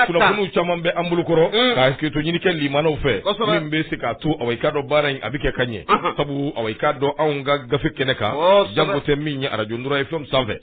kunnafoniw caman bɛ an bolokɔrɔ mm. ka hakɛto ɲini kɛ limanaw fɛ min bɛ se k'a to awa i k'a dɔn baara in a bɛ kɛ ka ɲɛ sabu awa i k'a dɔn anw ka gafe kɛnɛ kan janko tɛ min ye arajo nura FM sanfɛ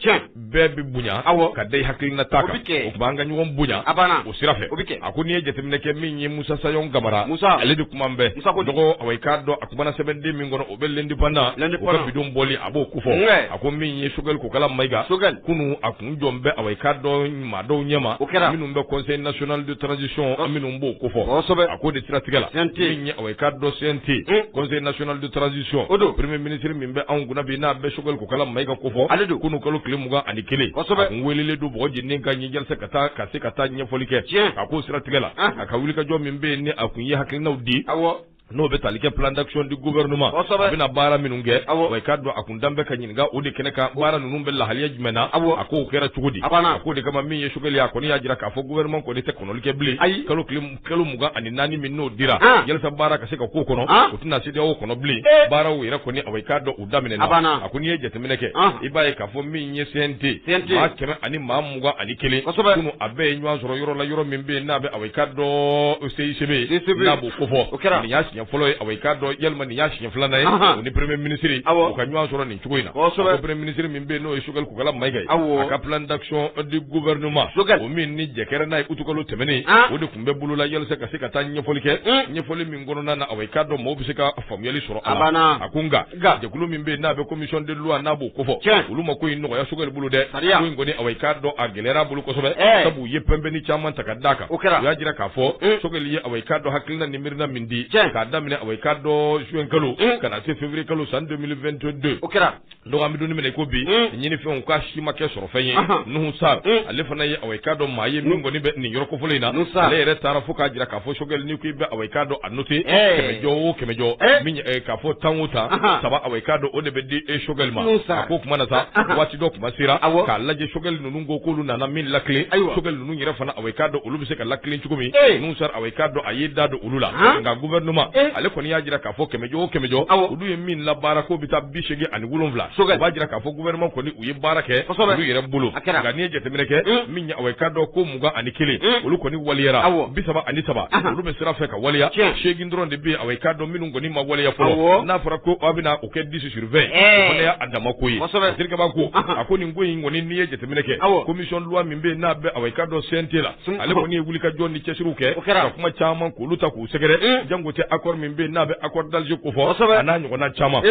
bɛɛ bɛ bonya ka da i hakilina ta kan o tuma an ka ɲɔgɔn bonya o sira fɛ a ko n'i ye jateminɛ kɛ min ye musa sayɔn kamara ale de kuma bɛ dɔgɔ awa i k'a dɔn a kumana sɛbɛnden min kɔnɔ o bɛ l'Indépendant l'Indépendant o ka bi don bɔli a b'o ko fɔ, wɛ, a ko min ye Choguel Kokala Mayiga, Choguel, kunun a kun jɔn bɛ awa i k'a dɔn maa dɔw ɲɛma, o kɛra, minnu bɛ conseil national de transition an minnu b'o ko fɔ, kosɛbɛ, a k'o de siratigɛ la, CNT, min ye awa i k'a dɔn CNT, un, conseil national de transition, o don, premier ministre min bɛ anw kunna bi n'a bɛ Choguel Kokala Mayiga ko fɔ, ale don, kunun kalo tile mugan ani kelen, kosɛbɛ, a kun weelelen don bɔgɔ jeninen kan yen yalasa ka se ka taa ɲɛfɔli kɛ, tiɲɛ, a k'o siratigɛ la, anhan, a ka wulikajɔ min bɛ yen ni a kun ye hakilinaw di, awɔ N'o bɛ tali kɛ plan d'action du gouvernement kosɛbɛ, a bɛna baara minnu kɛ, awɔ, i k'a dɔn a kun da bɛ ka ɲininka o de kɛnɛ kan baara ninnu bɛ lahaliya jumɛn na, awɔ, a k'o kɛra cogo di, a banna, a k'o de kama min ye sogɛli ye a kɔni y'a jira k'a fɔ gouvernement kɔni tɛ kɔnɔli kɛ bilen, ayi, kalo mugan ani naani min n'o dira, an, yalasa baara ka se ka k'o kɔnɔ, an, u tɛna CEDEAO kɔnɔ bilen, ee, baaraw yɛrɛ kɔni awa i k'a dɔn U daminɛna a banna a ko n'i ye jateminɛ kɛ i b'a ye k'a fɔ min ye CNT maa kɛmɛ ani maa mugan ani kelen kunun a bɛɛ ye ɲɔgɔn sɔrɔ yɔrɔ la yɔrɔ min bɛ yen n'a bɛ awa i k'a dɔn CICB n'a b'o ko fɔ o kɛra nin y'a siɲɛ fɔlɔ ye awa i k'a dɔn walima nin y'a siɲɛ filanan ye o ni premier ministre u ka ɲɔgɔn sɔrɔ nin cogo in na premier ministre min bɛ yen n'o ye Choguel Kokala Mayiga ye a ka plan d'action du gouvernement o min ni jɛkɛɛrɛ n'a ye utukalo tɛmɛnen o de tun bɛ bolola yalasa ka se ka taa ɲɛfɔli kɛ ɲɛfɔli kɔnɔna na awa i k'a dɔn maaw bɛ se ka faamuyali sɔrɔ a la. A banna. A ko nka. Nka. Jɛkulu min bɛ yen n'a bɛ commission de loi n'a b'o kofɔ. Tiɲɛ. Olu ma ko in nɔgɔya Sogɛli bolo dɛ. Sariya. Ko in kɔni awa i k'a dɔn a gɛlɛyara a bolo kosɛbɛ. Ɛɛ. Sabu u ye pɛnpɛnni caman ta ka d'a kan. O kɛra. U y'a jira k'a fɔ. Un. Sogɛli ye awa i k'a dɔn hakilina ni miirina min di. Tiɲɛ. K'a daminɛ awa i k'a dɔn juin kalo. Un. Ka na se février kalo san 2022. O kɛra. donc an bɛ don min na i ko bi ɲinifɛnw k'a si ma kɛ sɔrɔfɛn ye Nuhu Sar ale fana ye awɔ i k'a dɔn maa ye min kɔni bɛ nin yɔrɔ kofɔlen in na ale yɛrɛ taara fo k'a jira k'a fɔ sogɛli n'i ko i bɛ awɔ i k'a dɔn a noter kɛmɛ jɔ o kɛmɛ jɔ k'a fɔ tan o tan saba awɔ i k'a dɔn o de bɛ di e sogɛli ma a k'o tuma na sa waati dɔ tuma sera k'a lajɛ sogɛli ninnu ko k'olu nana min latilen sogɛli ninnu yɛrɛ fana awɔ i k'a dɔn olu bɛ se ka latilen cogo min Nuhu Sar awɔ i k'a dɔn a y'i da don olu la nka gouvernement ale kɔni y'a jira k'a A fɔ kɛmɛjɔ o kɛmɛjɔ olu ye min labaara ko bɛ taa bi segin ani wolonwula o b'a jira k'a fɔ gouvernement kɔni u ye baara kɛ olu yɛrɛ bolo o kɛra nka n'i ye jateminɛ kɛ min ye awa i k'a dɔn ko mugan ani kelen olu kɔni waliyara bi saba ani saba olu bɛ sira fɛ ka waliya segin dɔrɔn de bɛ yen awa i k'a dɔn minnu kɔni ma waleya fɔlɔ n'a fɔra ko a bɛna o kɛ dix sur vingt o fana y'a dama ko ye terikɛba ko a ko nin ko in kɔni n'i ye jateminɛ kɛ commission loi min bɛ yen n'a bɛ awa i k'a dɔn CNT la ale kɔni ye wulikajɔ ni cɛsiriw kɛ ka kuma caman k'olu ta k'u sɛgɛrɛ jango tɛ accord min bɛ yen n'a bɛ accord d'Alger kofɔ a n'a ɲɔgɔnna caman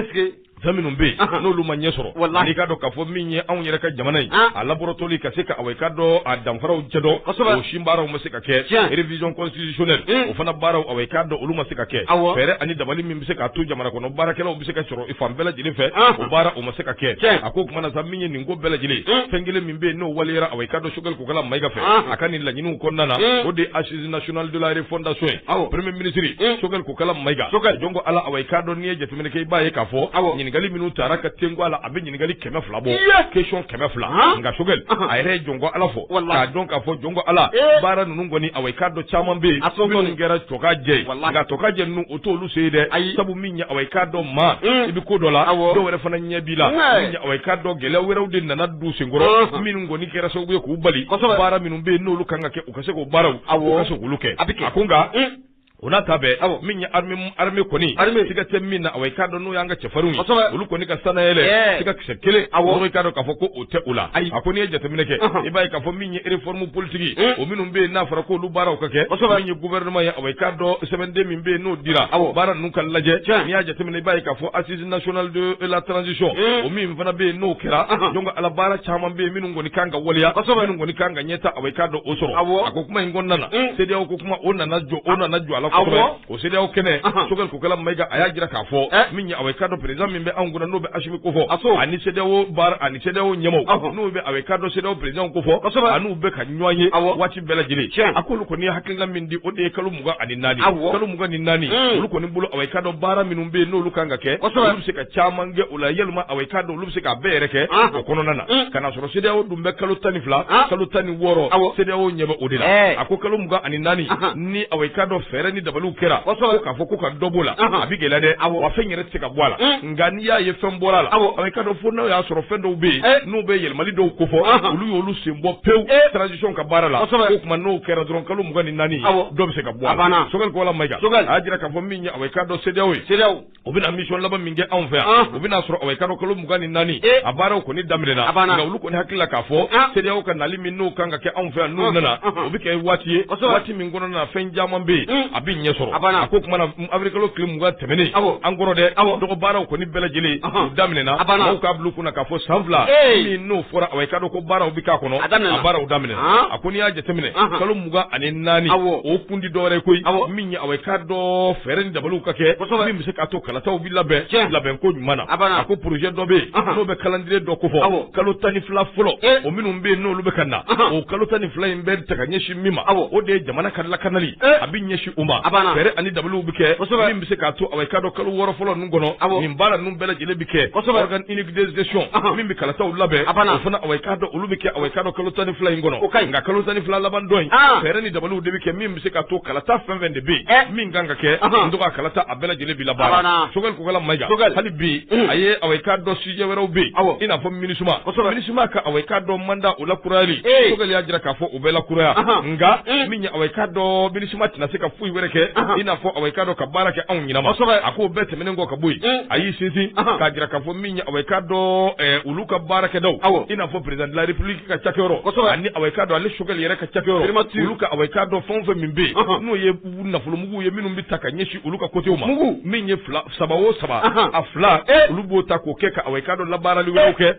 fɛn minnu bɛ yen n'olu ma ɲɛ sɔrɔ wala n'i k'a dɔn k'a fɔ min ye anw yɛrɛ ka jamana in a laborotoli ka se ka awa i k'a dɔn a danfaraw cɛ dɔn o si baaraw ma se ka kɛ révision constitutionnelle o fana baaraw awa i k'a dɔn olu ma se ka kɛ fɛɛrɛ ani dabali min bɛ se ka to jamana kɔnɔ baarakɛlaw bɛ se ka sɔrɔ i fan bɛɛ lajɛlen fɛ o baara o ma se ka kɛ a ko tuma na sa min ye nin ko bɛɛ lajɛlen fɛn kelen bɛ yen n'o waleyara awa i k'a dɔn Choguel Kokalla Maïga fɛ a ka nin laɲiniw kɔnɔna na o de ye assises nationales de la refondation ye premier ministre Choguel Kokalla Maïga jɔn ko ala awa i k'a dɔn n'i ye jateminɛ kɛ i b'a ye k'a fɔ ɲininkali minnu taara ka tenko a la a bɛ ɲininkali kɛmɛ fila bɔ question kɛmɛ fila nka Choguel a yɛrɛ ye jɔn ko ala fɔ k'a dɔn k'a fɔ jɔn ko ala baara ninnu kɔni awa i k'a dɔn caman bɛ yen minnu kɛra tɔkajɛ ye nka tɔkajɛ ninnu o t'olu se ye dɛ ayi sabu min ye awa i k'a dɔn maa i bɛ ko dɔ la dɔ wɛrɛ fana ɲɛ b'i la min ye awa i k'a dɔn gɛlɛya wɛrɛw de nana don u senkɔrɔ minnu kɔni kɛra sababu ye k'u bali baara minnu bɛ yen n'olu kan ka kɛ u ka se k'o baaraw u ka se k'olu kɛ a bɛ kɛ a ko nka o n'a ta bɛɛ min ye armée kɔni siga tɛ min na awa i k'a dɔn n'o y'an ka cɛfarinw ye olu kɔni ka sanayɛlɛ siga kisɛ kelen awa i k'a dɔn k'a fɔ ko tɛ o la ayi a ko n'i ye jateminɛ kɛ i b'a ye k'a fɔ min ye réforme politique hmm. o minnu bɛ yen n'a fɔra k'olu baaraw ka kɛ kosɛbɛ min ye gouvernement ye awa i k'a dɔn sɛbɛnden min bɛ yen n'o dira awɔ baara ninnu ka lajɛ n'i y'a jateminɛ i b'a ye k'a fɔ assise nationale de la transition hmm. o min fana bɛ yen n'o kɛra jɔn ko ala baara caman bɛ yen minnu kɔni kan ka waleya kosɛbɛ minnu kɔni kan ka ɲɛtaa awa i k'a dɔn o sɔrɔ awɔ a ko kuma in kɔnɔna na hmm. CEDEAO ko kuma o nana jɔ o nana jɔ a la kosɛbɛ O CEDEAO kɛnɛ Choguel Kokalla Maïga a y'a jira k'a fɔ min ye awa i k'a dɔn président min bɛ anw kunna n'o bɛ Assimi kofɔ ani ee ani CEDEAO ɲɛmaaw n'u bɛ awa i k'a dɔn CEDEAO président kofɔ a n'u bɛ ka ɲɔgɔn ye waati bɛɛ lajɛlen a k'olu kɔni ye hakilina min di o de ye kalo mugan ani naani kalo mugan ni naani olu kɔni bolo awa i k'a dɔn baara minnu bɛ yen n'olu kan ka kɛ olu bɛ se k'a caman kɛ o la yalima awa i k'a dɔn olu bɛ se k'a bɛɛ yɛrɛ kɛ o kɔnɔna na ka n'a sɔrɔ CEDEAO dun bɛ kalo tan ni fila kalo tan ni wɔɔrɔ CEDEAO ɲɛ bɛ o de la a ko kalo mugan ani naani ni awa i k'a dɔn fɛɛrɛ ni dabaliw kɛra ko k'a fɔ ko ka dɔ b'o la a bɛ gɛlɛya dɛ wa fɛn yɛrɛ tɛ se ka bɔ a la mm. nka n'i y'a ye fɛn bɔra la awa i k'a dɔn fo n'o y'a sɔrɔ fɛn dɔw bɛ yen eh. n'u bɛ yɛlɛmali dɔw kofɔ olu y'olu sen bɔ pewu eh. transition ka baara la o tuma n'o kɛra dɔrɔn kalo mugan ni naani dɔ bɛ se ka bɔ a la Choguel Kokalla Maïga a y'a jira k'a fɔ min ye awa i k'a dɔn CEDEAO ye u bɛna mission laban min kɛ anw fɛ yan o bɛn'a sɔrɔ awa i k'a dɔn kalo mugan ni naani a baaraw kɔni daminɛna nka olu kɔni hakili la k'a fɔ CEDEAO ka nali min n'o kan ka kɛ anw fɛ yan n'u nana o bɛ kɛ waati ye waati min kɔnɔna na fɛn caman bɛ yen a bɛ ɲɛ sɔrɔ a ko tuma na avril kalo tile mugan tɛmɛnen an kɔrɔ dɛ dɔgɔ baaraw kɔni bɛɛ lajɛlen u daminɛna mɔgɔw k'a bila u kunna k'a fɔ san fila min n'o fɔra awa i k'a dɔn ko baaraw bɛ k'a kɔnɔ a baaraw daminɛna a ko n'i y'a jateminɛ kalo mugan ani naani o kun tɛ dɔwɛrɛ koyi min ye aw ka dɔn fɛɛrɛ ni dabaliw ka kɛ min bɛ se k'a to kalataw bɛ labɛn labɛn ko ɲuman na a ko projet dɔ bɛ yen n'o bɛ calendrier dɔ ko fɔ kalo tan ni fila fɔlɔ o minnu bɛ yen n'olu bɛ ka na o kalo tan ni fila in bɛ ta ka ɲɛsin min ma aw o de ye jamana ka lakanali a bɛ ɲɛsin o ma a fɛɛrɛ ani dabaliw bɛ kɛ min bɛ se k'a to aw ka dɔn kalo wɔɔrɔ fɔlɔ kɔnɔ a nin baara ninnu bɛɛ lajɛlen bɛ kɛ organe unique de gestion min bɛ kalataw labɛn o fana a ka dɔn olu bɛ kɛ a ka dɔn kalo tan ni fila in kɔnɔ o ka nka kalo tan ni fila laban dɔ in fɛɛrɛ ni dabaliw de bɛ kɛ min bɛ se k'a to kalata fɛn fɛn de bɛ yen min kan ka kɛ to ka kalata a bɛɛ lajɛlen bɛ la Choguel Kokalla Maïga hali bi a ye a ka dɔn sujet wɛrɛw bɛ yen i n'a fɔ MINUSMA MINUSMA ka a ka dɔn mandat o lakurayali Choguel y'a jira k'a fɔ o bɛ lakuraya nka min ye a ka dɔn MINUSMA tɛna se ka foyi wɛrɛ kɛ i n'a fɔ aw k'a dɔn ka baara kɛ anw ɲinama a k'o bɛɛ tɛmɛnen kɔ ka bɔ yen a y'i sinsin k'a jira k'a fɔ min ye aw k'a dɔn olu ka baarakɛdaw i n'a fɔ président de la république ka cakɛyɔrɔ ani aw k'a dɔn ale Choguel yɛrɛ ka cakɛyɔrɔ olu ka aw k'a dɔn fɛn o fɛn min bɛ yen n'o ye nafolomuguw ye minnu bɛ ta ka ɲɛsin olu ka côté ma min ye fila saba o saba a fila olu b'o ta k'o kɛ ka aw k'a dɔn labaarali wɛrɛw kɛ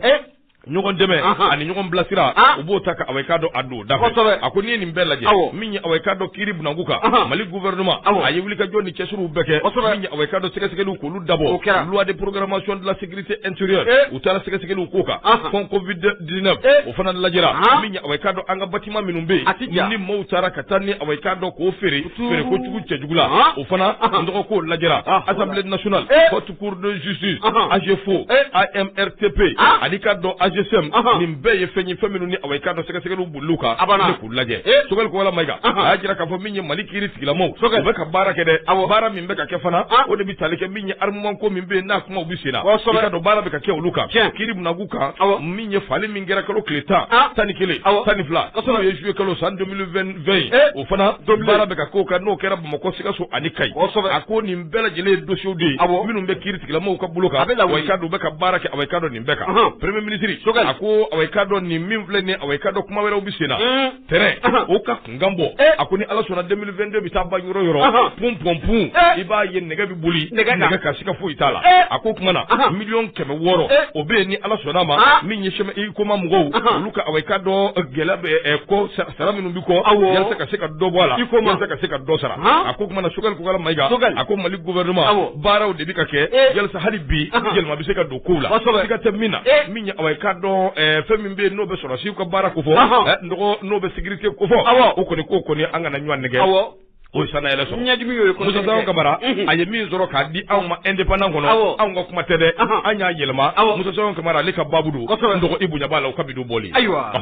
ɲɔgɔn dɛmɛ ani ɲɔgɔn bilasira u b'o ta ka awa ka dɔn a don da fɛ a ko n'i ye nin bɛɛ lajɛ min ye awa ka dɔn kiri bunda kunkan mali gouvernement a ye wulikajɔ ni cɛsiriw bɛɛ kɛ min ye awa ka dɔn sɛgɛsɛgɛliw k'olu dabɔ loi de programmation de la sécurité intérieure u taara sɛgɛsɛgɛliw k'o kan fonds covid 19 o fana lajɛra min ye awa ka dɔn an ka bâtiment minnu bɛ yen ni maaw taara ka taa ni awa ka dɔn k'o feere feere ko jugu cɛjugu la o fana tɔgɔ k'o lajɛra assemblée nas cour de justice AGEFAU AMRTP ani ka dɔn ANGESEM nin bɛɛ ye fɛn ye fɛn minnu ni a ka dɔn sɛgɛsɛgɛliw b'olu kan k'u lajɛ Choguel Kokalla Maïga a y'a jira k'a fɔ min ye mali kiri tigilamaw bɛ ka baara kɛ dɛ a baara min bɛ ka kɛ fana o de bɛ tali kɛ min ye armement ko min bɛ yen n'a kumaw bɛ sen na i ka dɔn baara bɛ ka kɛ olu kan kiri bunda kunkan min ye fagali min kɛra kalo tile tan tan ni kelen tan ni fila n'o ye zuye kalo san 2020 o fana baara bɛ ka k'o kan n'o kɛra bamakɔ sikaso ani ka bɛɛ lajɛlen ye dossiers de ye, awɔ, minnu bɛ kiiri tigilamaw ka bolo kan, a bɛ lawuli, awa ka dɔn bɛ ka baara kɛ awa ka dɔn nin bɛɛ kan, Ɔhɔn. premier ministre, Choguel. a ko awa ka dɔn nin min filɛ nin ye awa ka dɔn kuma wɛrɛw bɛ sen na, Un. tɛrɛn, Ɔhɔn. o ka kunkan bɔ, Eh. a ko ni Ala sɔnna 2022 bɛ taa ban yɔrɔ yɔrɔ, Ɔhɔn. pun pun pun, Eh. i b'a ye nɛgɛ bɛ boli, Nɛgɛ kan. nɛgɛ kan siga foyi t'a la, Eh. a ko kuma na, Ɔhɔn. miliyɔn kɛmɛ wɔɔrɔ, Eh. o bɛ yen ni Ala sɔnna a ma, Ah. min ye HUICOMA mɔgɔw, Ɔhɔn. olu ka awa ka dɔn gɛlɛya bɛ ɛ, kɔ sara sara minnu bɛ yalasa ka se ka dɔ bɔ a la yalasa ka se ka dɔ sara a ko kuma na Choguel Kokalla Maïga a ko mali gouvernement baaraw de bɛ ka kɛ yalasa hali bi yɛlɛma bɛ se ka don kow la siga tɛ min na min ye awa ka dɔn fɛn min bɛ yen n'o bɛ sɔrɔsiw ka baara ko fɔ n'o bɛ sécurité ko fɔ o kɔni k'o kɔni an kana ɲɔgɔn nɛgɛn O san yɛrɛ sɔrɔ ɲɛdimi ye musa sayɔn kamara a ye min sɔrɔ k'a di anw ma Indépendant kɔnɔ anw ka kuma tɛ dɛ an y'a yɛlɛma musa sayɔn kamara ale ka baabu don n dɔgɔ i bonya b'a la o ka bi don bɔli ayiwa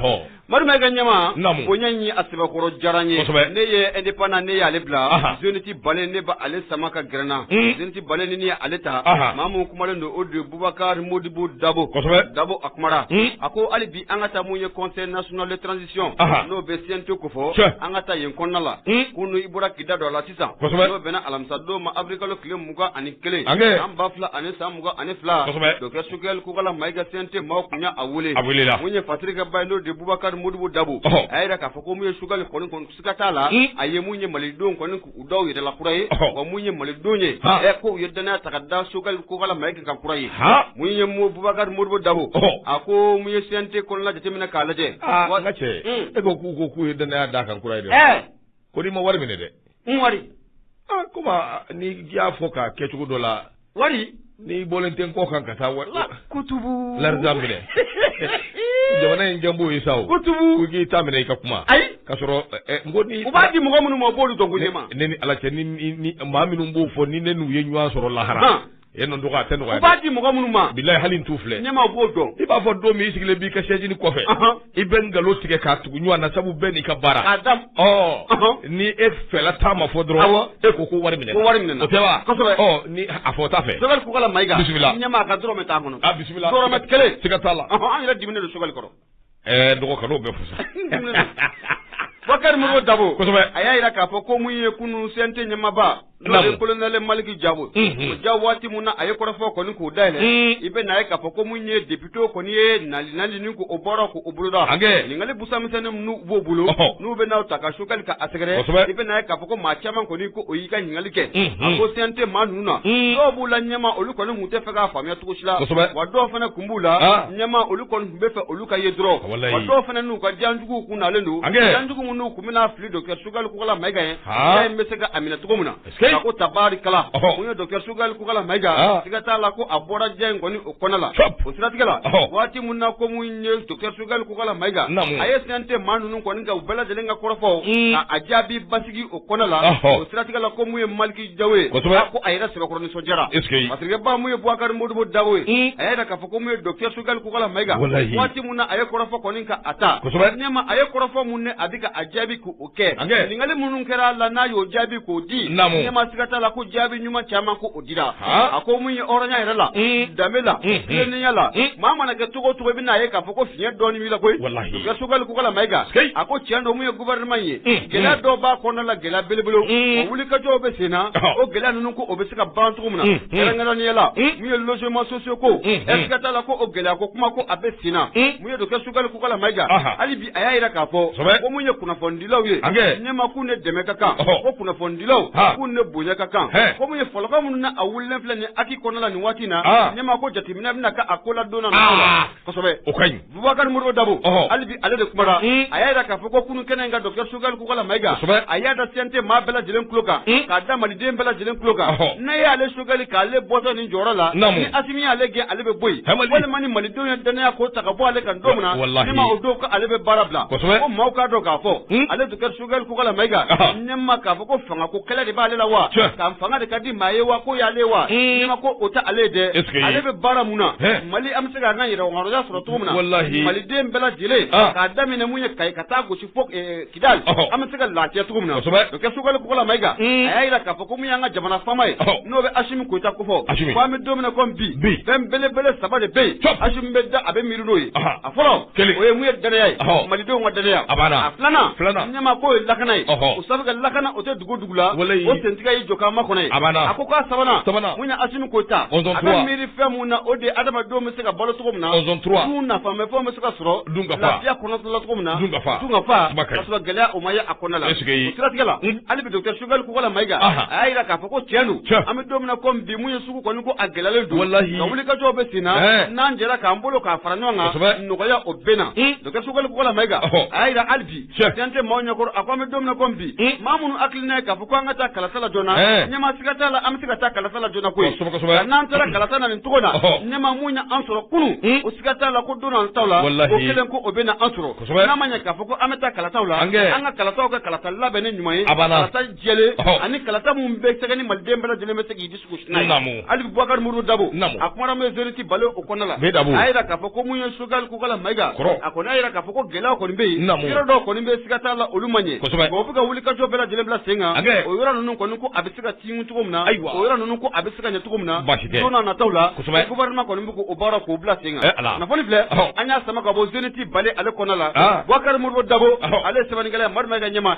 madu mayiga ɲama ko ɲɛ a sɛbɛkɔrɔ diyara n ye ne ye Indépendant ne y'ale bila Zénith Balé ne b' ale sama ka gɛrɛ n na Zénith Balé ni ye ale ta maa mun kumalen don o de bubakari modibo dabo a kuma a ko hali an ka taa mun ye conseil national de transition n'o bɛ CNT ko fɔ an ka taa yen kɔnɔna la kunun i bɔra k'i da don a la sisan n'o bɛnna alamisadon ma awirilikalo tile mugan ani kelen san ba fila ani san mugan ani fila docteur sogɛli kokala mayiga CNT maaw tun y'a weele mun ye fatirikɛbaa ye n'o de bubakari modibo dabo a y'a yira k'a fɔ ko mun ye sogɛli kɔni Siga t'a la a ye mun ye malidenw kɔni u da yɛrɛ la kura ye wa mun ye malidenw ye ko u ye dannaya ta k'a da sogɛli kokala mayiga kan kura ye mun ye bubakari modibo dabo a ko mun ye CNT kɔnɔna jateminɛ k'a lajɛ n ka cɛ e ko k'u ko k'u ye dannaya d'a kan kura ye dɛ ko n'i ma wari minɛ dɛ wari komi n'i y'a fɔ k'a kɛcogo dɔ la wari n'i bɔlen tɛ n kɔ kan ka taa wari kutubu l'argent minɛ jamana in jɔn b'o ye sa kutubu k'i t'a minɛ i ka kuma ayi ka sɔrɔ n ko u b'a di mɔgɔ minnu ma b'olu dɔn ko ne ma ne ni ala cɛ ni maa minnu b'o fɔ ni ne n'u ye ɲɔgɔn sɔrɔ lahara yen n dɔgɔ a tɛ nɔgɔya u b'a di mɔgɔ minnu ma bilahi hali n t'u filɛ ne ma b'o dɔn i b'a fɔ don min i sigilen b'i ka sɛjini kɔfɛ i bɛ nkalon tigɛ k'a tugu ɲɔgɔn na sabu bɛɛ n'i ka baara k'a da ɔ ni e fɛla ta ma fɔ dɔrɔn e ko ko wari minɛna ko wari minɛna o tɛ wa kosɛbɛ ɔ ni a fɔ ta fɛ sogɛli kokala mayiga bisimila ɲɛmaa ka dɔrɔmɛ t'a kɔnɔ a bisimila dɔrɔmɛ kelen siga t'a la an yɛrɛ diminen don sogɛli kɔrɔ ɛɛ n dɔgɔ kan'o bɛɛ fusa Bubakari Modibo Dabo kosɛbɛ a y'a jira k'a fɔ ko mun ye kunun CNT ɲɛmaaba n'o ye kolonɛli maliki jawu o ja waati min na a ye kɔrɔfɔ kɔni k'o dayɛlɛ i bɛ n'a ye k'a fɔ ko mun ye depitew kɔni ye nali nali ni ko o bɔra ko o boloda ɲininkali busamisɛnnin minnu b'o bolo n'u bɛ n'a ta ka sogɛli ka a sɛgɛrɛ i bɛ n'a ye k'a fɔ ko maa caman kɔni ko o y'i ka ɲininkali kɛ a ko CNT maa ninnu na dɔw b'u la ɲɛma olu kɔni tun tɛ fɛ k'a faamuya cogo si la wa dɔw fana tun b'u la ɲɛma olu kɔni tun bɛ fɛ olu ka ye dɔrɔn dɔw fana n'u ka janjugu tun nalen don janjugu minnu tun bɛ n'a fili docteur Sogɛli kokala mayiga a bɛ se ka minɛ cogo min na a ko tabarikala mun ye docteur sogɛli kokala mayiga siga t'a la ko a bɔra diya in kɔni o kɔnɛ la o siratigɛ la waati min na ko mun ye docteur sogɛli kokala mayiga a ye CNT maa ninnu kɔni u bɛɛ lajɛlen ka kɔrɔfɔw a jaabi basigi o kɔnɛ la o siratigɛ la ko mun ye maliki jawu ye ko a yɛrɛ sɛbɛkɔrɔ nisɔndiyara fasirikɛbaa mun ye bubakari modibo dabo ye a y'a yira k'a fɔ ko mun ye docteur sogɛli kokala mayiga waati min na a ye kɔrɔfɔ kɔni ka a ta ɲɛma a ye kɔrɔfɔ minɛ a di k'a jaabi k' o kɛ ɲininkali minnu kɛra a la n'a y'o jaabi k'o di ɲɛma siga t'a la ko jaabi ɲuman caman ko o dira a ko mun ye hɔrɔnya yɛrɛ la danbe la jɛlenya la maa mana kɛ cogo cogo bɛ n'a ye k'a fɔ ko fiɲɛ dɔɔnin b'i la koyi Sogɛli Kokala Mayiga, sikeyi, a ko tiɲɛ don min ye gouvernement ye, unhun, gɛlɛya dɔw b'a kɔnɔna la gɛlɛya belebelew, un, o wulikajɔw bɛ sen na, ɔhɔ, o gɛlɛya ninnu ko o bɛ se ka ban cogo min na, un, kɛrɛnkɛrɛnnenya la, un, min ye logements sociaux ko, unhun, siga t'a la ko o gɛlɛya ko kuma ko a bɛ sen na, un, mun ye Docteur Sogɛli Kokala Mayiga, anhan, hali bi a y'a jira k'a fɔ, kosɛbɛ, ko min ye kunnafonidilaw ye, an kɛ, ɲɛma k'u ni dɛmɛ ka kan, ɔhɔ, ko kunnafonidilaw, han, k'u ni bonya ka kan, hɛɛ, ko min ye fɔlɔkan minnu na a wulilen filɛ nin ye HAC kɔnɔna la nin waati in na, an, ɲɛma ko jateminɛ bɛna kɛ a ko la don n'a nataw la, aa O ka ɲi bubakari mori dabo hali bi ale de kumara a y'a jira k'a fɔ ko kunun kɛnɛ in kan docteur Sogɛli Kokala Mayiga a y'a da CNT maa bɛɛ lajɛlen tulo kan k'a da maliden bɛɛ lajɛlen tulo kan n'a y'ale Sogɛli k'ale bɔtɔ nin jɔyɔrɔ la ni Asimi y'ale gɛn ale bɛ bɔ yen walima ni malidenw ye dannaya ko ta ka bɔ ale kan don min na ɲɛma o don ko ale bɛ baara bila ko maaw k'a dɔn k'a fɔ ale Choguel Kokala Maïga Ahan. ɲɛma k'a fɔ ko fanga ko kɛlɛ de b'ale la wa Tiɲɛ. ka fanga de ka di maa ye wa ko y'ale ye wa Mm. ɲɛma ko o tɛ ale ye dɛ Est-ce que- ale bɛ baara mun na Hɛ. Mali an bɛ se k'an ka yɛrɛmahɔrɔnya sɔrɔ cogo min na Walahi. Maliden bɛɛ lajɛlen Ah. k'a daminɛ mun ye Kayi ka taa gosi fo eh, Kidali Ɔhɔ. an bɛ se ka lafiya cogo min na Kosɛbɛ. docteur Choguel Kokala Maïga Mm. a y'a jira k'a fɔ ko mun y'an ka jamana faama ye Ɔhɔ. n'o bɛ Asimi Koyita ko fɔ Asimi. ko an bɛ don min na komi bi Bi. fɛn belebele saba de bɛ yen Cɔp. Asimi bɛ da a bɛ miiri n'o ye Ahan. a fɔlɔ kelen o ye mun ye dannaya ye malidenw ka dannaya a b'a la filanan filanan ɲɛma k'o ye lakana ye o sabu ka lakana o tɛ dugu dugu la o sentigɛ ye jɔkan ma kɔnɔ ye a b'a la a ko k'a sabanan sabanan mun ye Asimi Koyita a bɛ miiri fɛn mun na o de ye adamadenw bɛ se ka balo cogo min na dun nafamafɛnw bɛ se ka sɔrɔ dun ka fa lafiya kɔnɔtɔla cogo min na dun ka fa dun ka fa ka sɔrɔ gɛlɛya o ma ye a kɔnɔna la o siratigɛ la hali bi docteur Sogɛli Kokala Mayiga a y'a jira k'a fɔ ko tiɲɛ don an bɛ don min na komi bi mun ye U kɔni ko a gɛlɛyalen don walahi nka wulikajɔw bɛ senna ɛɛ n'an jɛra k'an bolo k'a fara ɲɔgɔn kan kosɛbɛ nɔgɔya o bɛ na un docteur Sogɛli Kokala Mayiga ɔhɔ a y'a jira hali bi tiɲɛ CNT maaw ɲɛkɔrɔ a ko an bɛ don min na komi bi un maa minnu hakilina ye k'a fɔ ko an ka taa kalata la joona ɛɛ ɲɛmaa siga t'a la an bɛ se ka taa kalata la joona koyi kosɛbɛ kosɛbɛ nka n'an taara kalata na nin cogo la ɔhɔ ɲɛmaa mun ye an sɔrɔ kunun un o siga t'a la ko don nataw la walahi o kelen ko o bɛ na an sɔrɔ kosɛbɛ n'a ma ɲɛ k'a fɔ ko an bɛ taa kalataw la an kɛ an ka kalataw kɛ kalata labɛnnen ɲuman ye a banna kalata jɛlen ɔhɔ ani kalata minnu bɛ se ka ɲɛ maliden bɛɛ lajɛlen bɛ se k'i hali bubakari muru dabo a kumara min Zeniti Bale o kɔnɔna la a y'a jira k'a fɔ ko mun ye Sogɛli Kokala Mayiga a kɔni y'a jira k'a fɔ ko gɛlɛya kɔni bɛ yen yɔrɔ dɔw kɔni bɛ siga t'a la olu ma ɲɛ o bɛ ka wulikajɔ bɛɛ lajɛlen bila sen kan o yɔrɔ ninnu kɔni ko a bɛ se ka tiɲɛ cogo min na ayiwa o yɔrɔ ninnu ko a bɛ se ka ɲɛ cogo min na don n'a nataw la gouvernement kɔni bɛ k'o baara ko bila sen kan kunnafoni filɛ an y'a sama ka bɔ Zeniti Bale ale kɔnɔna la bubakari muru dabo ale ye sɛbɛnnikɛla ye Madu Mayiga Ɲɛma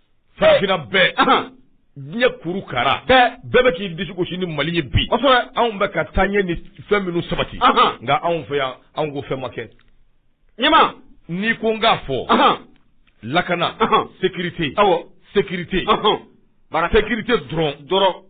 farafina bɛɛ diɲɛ kuru kara bɛɛ bɛ k'i disi gosi ni mali ye bi anw bɛ ka taa ɲɛ ni fɛn minnu sabati nka anw fɛ yan anw ko fɛn ma kɛ ɲɛma n'i ko n k'a fɔ lakana sekirite aw sekirite bara sekirite dɔrɔn dɔrɔn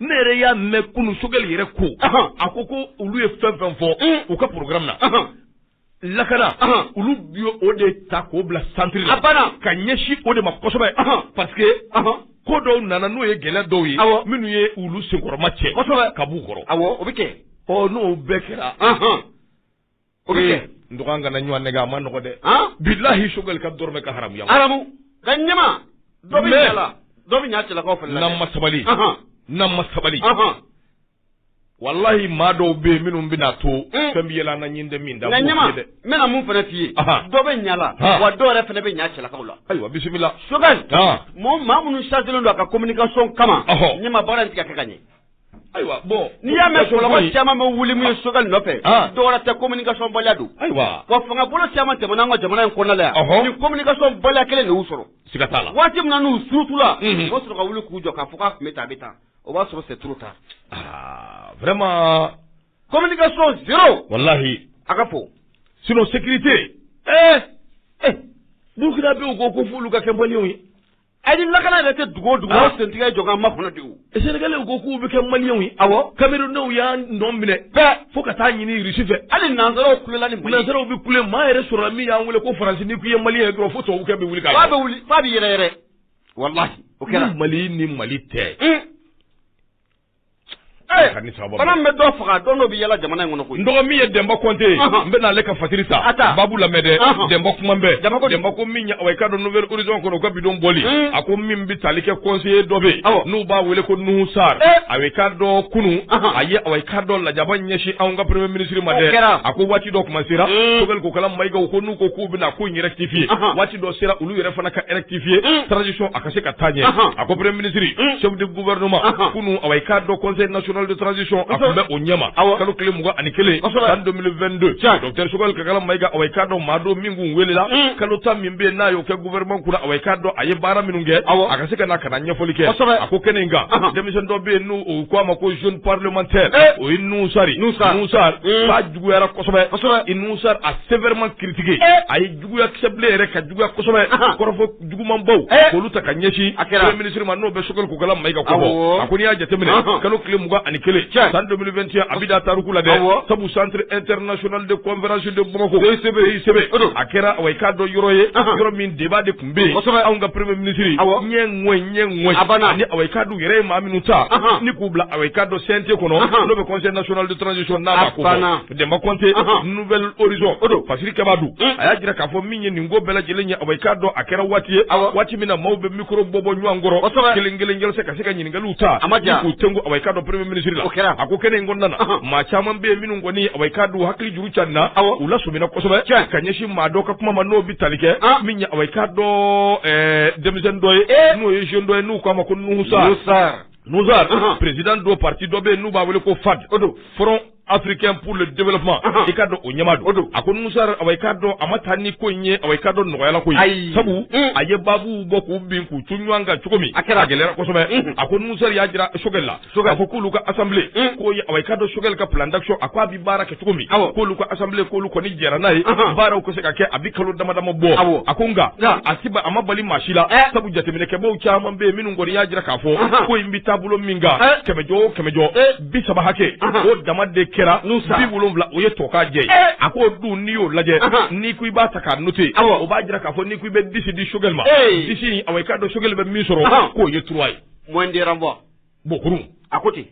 ne yɛrɛ y'a mɛn kunun sogɛli yɛrɛ ko a ko ko olu ye fɛn fɛn fɔ u ka programme na lakana olu bi o de ta k'o bila centre la banna ka ɲɛsin o de ma kosɛbɛ parce que ko dɔw nana n'o ye gɛlɛya dɔw ye minnu ye olu senkɔrɔma cɛ ka b'u kɔrɔ o bɛ kɛ n'o bɛɛ kɛra o bɛ kɛ n dɔgɔ an kana ɲɔgɔn nɛgɛn a ma nɔgɔ dɛ bilahi sogɛli ka dɔrɔmɛ ka haramu yan ka haramu nka ɲɛma dɔ bɛ ɲa la dɔ bɛ ɲa cɛlakaw fɛ n'an ma sabali n'an ma sabali walahi maa dɔw bɛ yen minnu bɛna to mm. fɛn bɛ yɛlɛ an na ɲin tɛ min da nka ɲɛma n bɛna mun fana f'i ye dɔ bɛ ɲa la wa dɔw yɛrɛ fana bɛ ɲa cɛlakaw la ayiwa bisimila sogɛli maa minnu chargelen don a ka communication kama ɲɛma baara in tɛ ka kɛ ka ɲɛ Ayiwa bon n'i y'a mɛn mɔgɔ caman bɛ wuli min ye sogɛli nɔfɛ dɔ wɛrɛ tɛ communication baliya don ayiwa wa fanga bolo caman tɛmɛna an ka jamana in kɔnɔ yan ni communication baliya kelen de y'u sɔrɔ siga t'a la waati min na n'u surutula u b'a sɔrɔ ka wuli k'u jɔ k'a fɔ k'a tun bɛ tan a bɛ tan o b'a sɔrɔ c'est trop tard vraiment communication zéro walahi a ka fɔ sinon sécurité Burkinabè ko fo olu ka kɛ maliyɛnw ye A ni lakana yɛrɛ tɛ dugu o dugu sentigɛ jɔ ma kɔnɔ de Sénégalais ko k'u bɛ kɛ maliyɛnw ye awɔ Camerounaisw y'an nɔ minɛ fo ka taa ɲini Irisi fɛ hali nansaraw kulela ni nansaraw bɛ kule maa yɛrɛ sɔrɔla min y'an wele ko Faransi ni k'i ye maliyɛn ye dɔrɔn fo tubabukɛ bɛ wuli ka wuli f'a bɛ yɛrɛyɛrɛ walahi o kɛra mali ni mali tɛ Ɛɛ, Ani sababa. bana min bɛ dɔ faga don dɔ bɛ yala jamana in kɔnɔ koyi. N dɔgɔ min ye Denba Konte ye, Ɔhɔn. n bɛna ale ka fatiri ta. A ta. Babu lamɛn dɛ. Ɔhɔn. Denba kuma bɛɛ. Denba ko di? Denba ko min ye awa i k'a dɔn Nouvel Horizon kɔnɔ, u ka bi don bɔli. Un. A ko min bɛ tali kɛ conseiller dɔ bɛ yen, Awɔ. n'u b'a wele ko Nuhu Sarr. Eh. Awa i k'a dɔn kunun, Ɔhɔn. a ye awa i k'a dɔn lajaba ɲɛsin anw ka premier ministre ma dɛ. O kɛra. A ko waati dɔ kuma sera, Un. Sogɛli Kokala Mayigaw ko n'u ko k'u bɛna ko in rectifier. Ɔhɔn. Waati dɔ sera, olu yɛrɛ fana ka rectifier, Un. transition a ka se ka taa ɲɛ. Ɔhɔn. A ko premier ministre, Un. chef de gouvernement Anhan. kunun awa i k'a dɔn conseil national de transition a tun bɛ o ɲɛma Awɔ. kalo tile mugan ani kelen Kosɛbɛ. san 2022 Tiɲɛ. docteur sogɛli kokala mayiga awa i k'a dɔn maa don min kun welela Mm. kalo tan min bɛ yen n'a y'o kɛ gouvernement kunna awa i k'a dɔn a ye baara minnu kɛ Awɔ. a ka se ka na ka na ɲɛfɔli kɛ Kosɛbɛ. a ko kɛnɛ in kan Anhan. denmisɛn dɔ bɛ yen n'u ko a ma ko jeune parlementaire Eh. o ye Nuhu Sarr Nuhu Sarr. Nuhu Sarr Mm. k'a juguyara kosɛbɛ Kosɛbɛ. Nuhu Sarr a sévèrement critiqué Eh. a ye juguya kɛ sɛbɛ la yɛrɛ ka juguya kosɛbɛ, anhan, kɔrɔfɔ jugumanbaw, ɛɛ, k'olu ta ka ɲɛsin, a kɛra, premier ministre ma n'o bɛ Choguel Kokala Mayiga kofɔ, awɔ, a ko n'i y'a jateminɛ, anhan, kalo tile mugan ani kelen, tiɲɛ, san 2021 a bɛ da tariku la dɛ, awɔ, sabu centre international de conférence de Bamako, CICB, CICB, o don, a kɛra awa i k'a dɔn yɔrɔ ye, anhan, yɔrɔ min débat de tun bɛ yen, kosɛbɛ, anw ka premier ministre, awɔ, ɲɛ ŋɔɲ ɲɛ ŋɔɲ, a banna, ani awa i k'a dɔn u yɛrɛ ye maa minnu ta, anhan, ni k'u bila awa i k'a dɔn CNT kɔnɔ, anhan, n'o bɛ conseil national de transition n'a b'a kofɔ, a banna. Denba kɔnte Nouvel Horizon fasirikɛba don a y'a jira k'a fɔ min ye nin ko bɛɛ lajɛlen ye awa i k'a dɔn a kɛra waati ye waati min na maaw bɛ mikoro bɔ bɔ ɲɔgɔn kɔrɔ kelen kelen kelen se ka se ka ɲininkaliw ta a ma diya k'u tɛmɛ awa i k'a dɔn premier ministre la a ko kɛnɛ in kɔnɔna na maa caman bɛ yen minnu kɔni awa i k'a dɔn hakili juru carinna u lasɔmina kosɛbɛ ka ɲɛsin maa dɔ ka kuma ma n'o bɛ tali kɛ min ye awa i k'a dɔn denmisɛnnin dɔ ye n'o ye jeune dɔ ye n'u k'a ma ko Nuhu Sarr Nuhu Sarr président don parti dɔ bɛ yen n'u b'a wele ko FAD Front africain pour le développement i ka dɔn o ɲɛmaa don a ko Nuhu Sarr awa i ka dɔn a ma taa ni ko in ye awa i ka dɔn nɔgɔyala ko ye sabu mm. a ye baabuw bɔ k'u bin k'u ton ɲɔgɔn kan cogo min a gɛlɛyara kosɛbɛ mm. a ko Nuhu Sarr y'a jira Choguel la a ko k'olu ka assemblée mm. k'o ye awa i ka dɔn Choguel ka plan d'action a ko a bi baara kɛ cogo min k'olu ka assemblée k'olu kɔni jɛra n'a ye baaraw ka se ka kɛ a bi kalo dama dama bɔ a ko nka a ma bali maa si la eh. sabu jateminɛkɛbaaw caman bɛ yen minnu kɔni y'a jira k'a fɔ ko in bi taabolo min kan eh. kɛmɛjɔ o kɛmɛjɔ eh. bi saba hakɛ o dama de kɛra bi wolonwula o ye tokajɛ a ko dun n'i y'o lajɛ n'i ko i b'a ta k'a noter o b'a jira k'a fɔ n'i ko i bɛ dix di Choguel ma dix awa i k'a dɔn Choguel bɛ min sɔrɔ k'o ye trois ye moyenne de renvoi bokuru a ko ten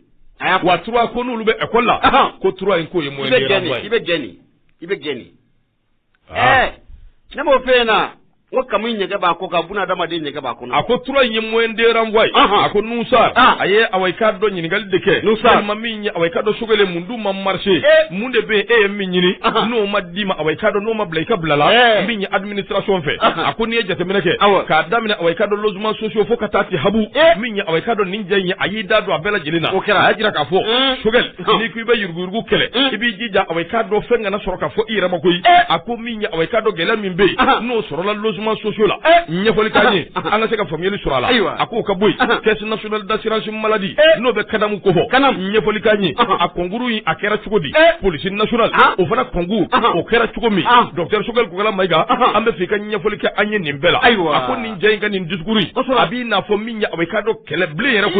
wa trois ko n'olu bɛ école la ko trois in k'o ye moyenne i bɛ gɛn ne b'o fɛ yen na ko kami ɲɛgɛn b'a ko ka buna dama de ɲɛgɛn b'a kɔnɔ a ko trois in ye moyenne de renvoi ye a ko Nuhu Sarr a ye awa i k'a dɔn ɲininkali de kɛ a ma min ye awa i ka dɔn Choguel e mun dun ma marcher mun de bɛ yen e ye min ɲini n'o ma d'i ma awa i ka dɔn n'o ma bila i ka bila la min ye administration fɛ a ko n'i ye jateminɛ kɛ k'a daminɛ awa i ka dɔn logements sociaux fo ka taa se habu min ye awa i ka dɔn nin cɛ in a y'i da don a bɛɛ lajɛlen na a y'a jira k'a fɔ Choguel n'i ko i bɛ yuruguyurugu kɛlɛ i b'i jija awa i k'a dɔn fɛn kana sɔrɔ ka fɔ i yɛrɛ ma koyi a ko min ye awa i k'a dɔn gɛlɛya min bɛ yen n'o sɔrɔla logements sociaux la ɲɛfɔli ka ɲɛ an ka se ka faamuyali sɔrɔ a la a ko o ka bɔ yen caisse nationale d'assurance maladie n'o bɛ CANAM kofɔ ɲɛfɔli ka ɲɛ a concours in a kɛra cogo di police nationale o fana concours o kɛra cogo min docteur Choguel Kokalla Maïga an b'a fɛ i ka ɲɛfɔli kɛ an ye nin bɛɛ la ayiwa a ko nin cɛ in ka nin discours a b'i n'a fɔ min ye awa i k'a dɔn kɛlɛbilen yɛrɛ ko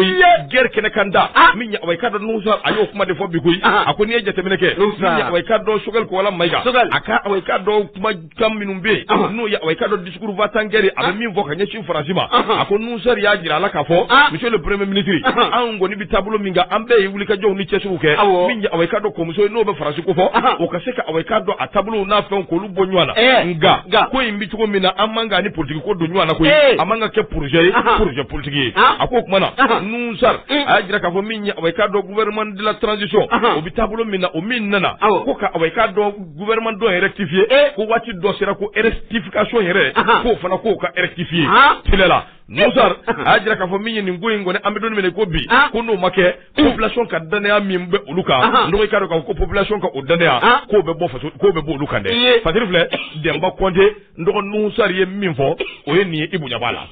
gɛrɛ kɛnɛ kan ta min ye awa i k'a dɔn Nuhu Sarr a y'o kuma de fɔ bi koyi a ko n'i ye jateminɛ kɛ min ye awa i k'a dɔn Choguel Kokalla Maïga a ka awa i k'a dɔn kumakan minnu bɛ yen n'o ye awa i k'a dɔn discours va-t-en-guerre a bɛ min fɔ ka ɲɛsin Faransi ma a ko Nuhu Sarr y'a jira a la k'a fɔ monsieur le premier ministre anw kɔni bɛ taabolo min kan an bɛɛ ye wulikajɔw ni cɛsiriw kɛ min ye awa i k'a dɔn kɔmuso n'o bɛ Faransi kofɔ o ka se ka awa i k'a dɔn a taabolo n'a fɛn bɔ ɲɔgɔn na eh, nka nka ko in bɛ cogo min na an man k'a ni politigi ko don ɲɔgɔn na koyi eh. a man ka kɛ projet ye projet politigi ye ah. a ko kuma na Nuhu Sarr mm. a y'a jira k'a fɔ min ye awa i k'a dɔn gouvernement de la transition o bɛ taabolo min na o min nana ko ka awa i k'a dɔn gouvernement dɔ rectifier eh. ko waati dɔ sera ko rectification yɛrɛ k'o fana k'o ka rectifier ah. tile la Nouh Sarr a y'a jira k'a fɔ min ye nin ko in kɔni an bɛ don min na ko bi ko n'o ma kɛ population ka dannaya min bɛ olu kan n dɔgɔ k'a dɔn ko population ka o dannaya k'o bɛ bɔ faso k'o bɛ bɔ olu kan dɛ Fadiri filɛ Denba Kɔnte n dɔgɔ Nouh Sarr ye min fɔ o ye nin ye Ibu ɲɛ b'a la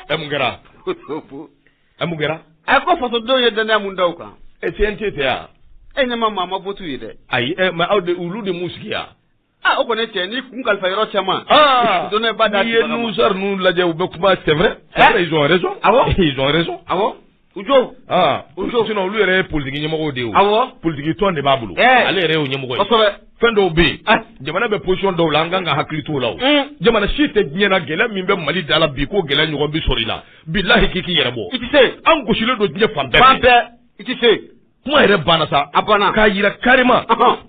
ɛ mun kɛra ɛ mun kɛra a ko fasodenw ye dannaya mun da u kan ɛ CNT tɛ wa e ɲɛ ma maa ma vote u ye dɛ ayi ɛ mais aw de olu de m'u sigi wa. Aa o kɔni cɛ ni kun kalifa yɔrɔ caman donba da ye Nouh Sarr ninnu lajɛ u bɛ kuma c'est vrai ils ont raison ils ont raison u jo sinon olu yɛrɛ ye politique ɲɛmɔgɔ de ye politique tɔn de b'a bolo ale yɛrɛ ɲɛmɔgɔ ye fɛn dɔw bɛ yen jamana bɛ position dɔw la an kan ka hakili to o la jamana si tɛ diɲɛ na gɛlɛya min bɛ Mali da la bi ko gɛlɛya ɲɔgɔn bɛ sɔrɔ i la bilahi k'i k'i yɛrɛ bɔ i tɛ se an gosilen don diɲɛ fan bɛɛ i tɛ se kuma yɛrɛ banna sa a banna k'a jira carrément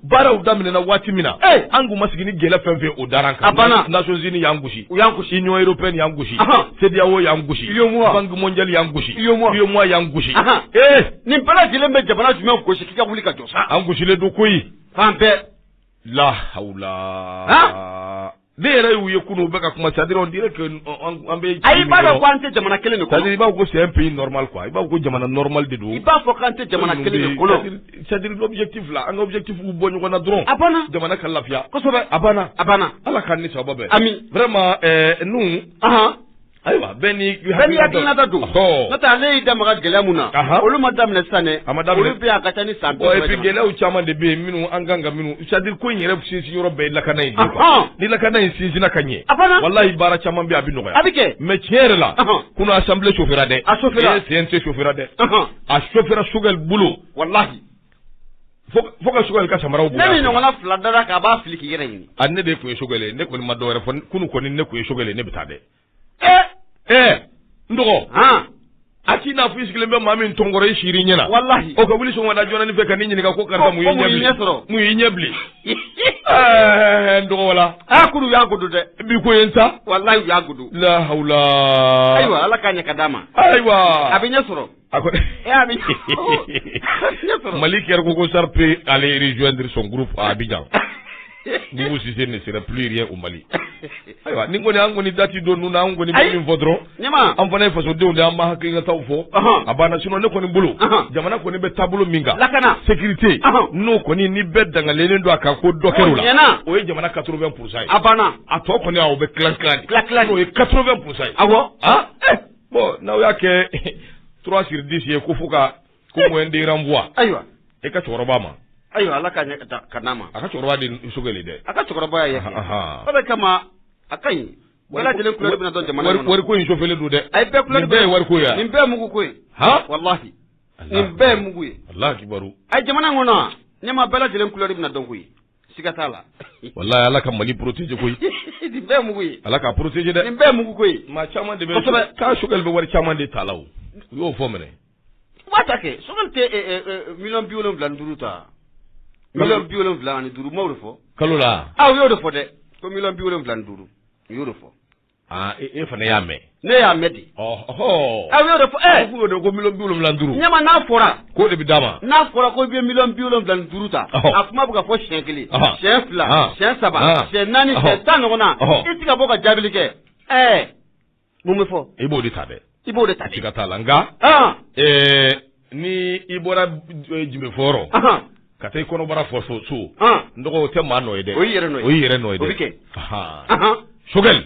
baaraw daminɛna waati min na an kun ma sigi ni gɛlɛya fɛn fɛn o dara an kan a banna nations unies y'an gosi u y'an gosi union européenne y'an gosi CEDEAO y'an gosi UEMOA banque mondiale y'an gosi UEMOA UEMOA y'an gosi ee nin bɛɛ lajɛlen bɛ jamana jumɛn gosi k'i ka wuli ka jɔ sa an gosilen don koyi fan bɛɛ la hawla ne yɛrɛ y'u ye kunun u bɛ ka kuma c'est à dire on dirait que an bɛ ayi i b'a dɔn ko an tɛ jamana kelen de kɔnɔ c'est à dire i b'a fɔ ko c'est un pays normal quoi i b'a fɔ ko jamana normal de don i b'a fɔ k'an tɛ jamana kelen de kɔnɔ c'est à dire l'objectif là an ka objectif bɔ ɲɔgɔn na dɔrɔn a banna jamana ka lafiya kosɛbɛ a banna a banna Ala k'an ni sababu bɛn amin vraiment ɛɛ nous Ayiwa bɛɛ n'i hakilinata don, ɔhɔ, n'o tɛ ale y'i da maga gɛlɛya min na, anhan, olu ma daminɛ sisan dɛ, a ma daminɛ, olu bɛ yan a ka ca ni san bi saba ye, bon et puis gɛlɛyaw caman de bɛ yen minnu an kan ka minnu c'est à dire ko in yɛrɛ sinsin yɔrɔ bɛɛ ye lakana in de ye quoi, anhan, ni lakana in sinsinna ka ɲɛ, a banna, walahi baara caman bɛ yen a bɛ nɔgɔya, a bɛ kɛ, mais tiɲɛ yɛrɛ la, anhan, kunun assemblée chauffera dɛ, a chauffera, CNT chauffera dɛ, anhan, a chauffera Choguel bolo, walahi Fo ka Choguel ka samara ne ni ɲɔgɔn fila da k'a b'a fili k'i yɛrɛ ɲini ne de tun ye Choguel ye ne kɔni ma dɔwɛrɛ fɔ kunun kɔni ne tun ye Choguel ye ne bɛ taa dɛ ɛɛ n dɔgɔ a t'i n'a fɔ sigilen bɛ maa min tɔnkɔrɔ i siiri ɲɛna walahi o ka wuli sɔgɔmada joonanin fɛ ka ɲininka ko karisa mun y'i sɔrɔ mun y'i ɲɛ bilen ɛɛ n dɔgɔ la a kuru y'a kodo dɛ bi ko n ta walahi u y'a kodo la ayiwa Ala k'a ɲɛ ka d'a ma ayiwa a bɛ ɲɛ sɔrɔ A ko Mali kɛra ko ko Sarr peut aller rejoindre son groupe à Abidjan Boubou Cissé ne serait plus rien au Mali ayiwa nin kɔni an kɔni da tɛ don ninnu na an kɔni bɛ min fɔ dɔrɔn an fana ye fasodenw de an b'an hakilinataw fɔ a banna sinon ne kɔni bolo jamana kɔni bɛ taabolo min kan lakana sécurité n'o kɔni ni bɛɛ dangalen don a kan ko dɔ kɛr'o la o ye jamana quatre-vingts pour cent ye a banna a tɔ kɔni o bɛ kika n'o ye quatre-vingts pour cent ye aw bon n'aw y'a kɛ trois sur dix ye ko fo ka ko moyenne de renvoi ayiwa e ka cɛkɔrɔba ma ayiwa ala ka ka n'a ma a ka cɛkɔrɔba de Choguel dɛ a ka cɛkɔrɔba ye o de kama a ka ɲi bɛɛ lajɛlen couleur bɛna dɔn jamana wari ko in chauffélen don dɛ a ye bɛɛ couleur bɛɛ ye wari ko ye nin bɛɛ mugu ko ye ha walahi nin bɛɛ mugu ye Alahu akibaru a ye jamana kɔnɔ ɲɛma bɛɛ lajɛlen couleur bɛna dɔn koyi siga t'a la walahi Ala ka Mali protéger koyi nin bɛɛ ye mugu ye Ala k'a protéger dɛ nin bɛɛ ye mugu ko ye maa caman de bɛ ko Choguel bɛ wari caman de ta la o u y'o fɔ mɛnɛ u b'a ta kɛ Choguel tɛ ɛ ɛ ɛ million 75 ta million 75 u m'o de fɔ kalo la a u y'o de fɔ dɛ ko million 75 u y'o de fɔ Aa e fana y'a mɛn ne y'a mɛn di u y'o de fɔ ko miliyɔn bi wolonwula ni duuru ɲɛma n'a fɔra k'o de bɛ d'a ma n'a fɔra k'a bɛ miliyɔn bi wolonwula ni duuru ta a kuma bɛ ka fɔ siyɛn kelen siyɛn fila siyɛn saba siyɛn naani tan ɲɔgɔn na i tɛ ka bɔ ka jaabili kɛ ɛɛ mun bɛ fɔ i b'o de ta dɛ i b'o de ta ka taa la nka ni i bɔra jubeɔrɔn ka taa i kɔnɔbara fɔ so so n dɔgɔ o tɛ maa nɔ ye dɛ o y'i yɛrɛ nɔ ye kɛ Choguel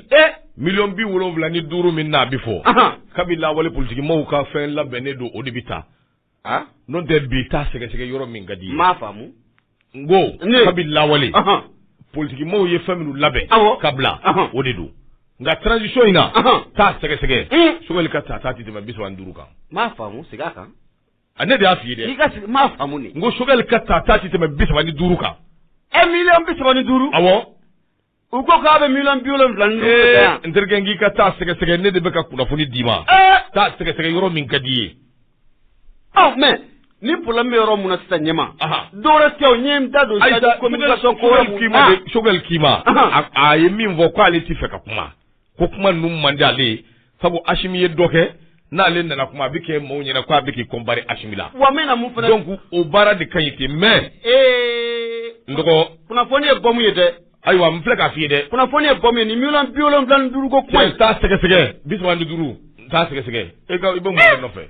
miliyɔn bi wolonwula ni duuru min na a bɛ fɔ kabini lawale politiki maaw ka fɛn labɛnnen don o de bɛ taa n'o tɛ bi taa sɛgɛsɛgɛ yɔrɔ min ka di m'a faamu n ko kabi lawale politiki maaw ye fɛn minnu labɛn ka bila o de don nka transition in na taa sɛgɛsɛgɛ Choguel ka tata tɛ tɛmɛ bi saba ni duuru kan m'a faamu segin a kan a ne de y'a f'i ye dɛ m'a faamu n ko Choguel ka tata tɛ tɛmɛ bi saba ni duuru kan e miliyɔn bi saba ni duuru a U ko k'a bɛ miliyɔn bi wolonwula n terikɛ n k'i ka taa sɛgɛsɛgɛ ne de bɛ ka kunnafoni d'i ma taa sɛgɛsɛgɛ yɔrɔ min ka di i ye mais ni problème bɛ yɔrɔ mun na sisan ɲɛma dɔwɛrɛ tɛ ɲɛ da don ko Choguel k'i ma a ye min fɔ k'ale ale t'a fɛ ka kuma ko kuma ninnu man di ale ye sabu Asimi ye dɔ kɛ n'ale nana kuma a bɛ kɛ maaw ɲɛna k'a bɛ k'i comparer Asimi la wa mɛn na mun fana donc o baara de ka ɲi ten mais ee n dɔgɔ kunnafoni ye bɔmu ye dɛ ayiwa n filɛ k'a f'i ye dɛ kunnafoni ye bɔmu ye nin miliyɔn bi wolonwula ni duuru ko kuma in t'a sɛgɛsɛgɛ bi saba ni duuru n t'a sɛgɛsɛgɛ e ka i bɛ mun de nɔfɛ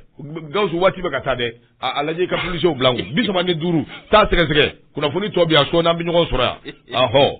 Gawusu waati bɛ ka taa dɛ a a lajɛ i ka polisiw bila n kun bi saba ni duuru t'a sɛgɛsɛgɛ kunnafoni tɔ bɛ yan sɔɔni an bɛ ɲɔgɔn sɔrɔ yan ahɔ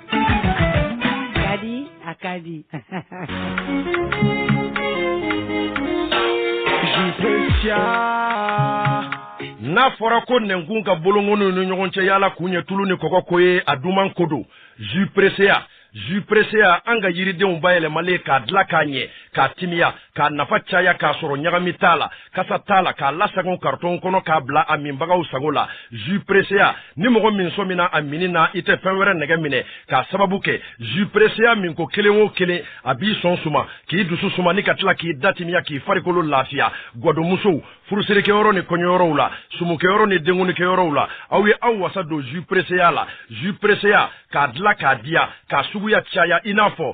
Ka di a ka di n'a fɔra ko nɛnkun ka bolonkɔninw ni ɲɔgɔn cɛ yaala kun ye tulu ni kɔgɔ ko ye a duman ko don jus presseya jus presseya an ka yiridenw bayɛlɛmalen k'a dilan k'a ɲɛ k'a timiya k'a nafa caya k'a sɔrɔ ɲagami t'a la kasa t'a la k'a lasagon karitɔn kɔnɔ k'a bila a minbagaw sago la jus pressea ni mɔgɔ min sɔmina a minni na i tɛ fɛn wɛrɛ nɛgɛ minɛ k'a sababu kɛ jus pressea minko kelen o kelen a b'i sɔn suma k'i dusu suma ni ka tila k'i da timiya k'i farikolo lafiya gwadonmusow furusirikɛyɔrɔ ni kɔɲɔyɔrɔw la sumukɛyɔrɔ ni denkundikɛyɔrɔw la aw ye aw wasa don jus pressea la jus pressea k'a dilan k'a diya k'a suguya caya i n'a fɔ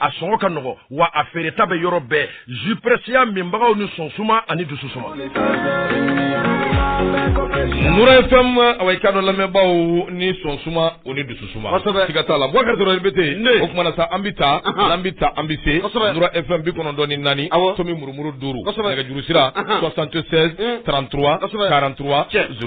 a sɔngɔ ka nɔgɔ wa a feereta bɛ yɔrɔ bɛɛ jus pressea minbagaw ni sɔn suma ani dusu suma nura fm awa i ka dɔn lamɛnbaaw ni sɔn suma o ni dusu suma kosɛbɛ siga t'a la bubakari dɔrɔn bɛ ten o kuma na sa an bɛ taa an bɛ taa an bɛ se kosɛbɛ nura fm bi kɔnɔntɔn ni naani awɔ tomi murumuru duuru kosɛbɛ nɛgɛjuru sira 76 33 43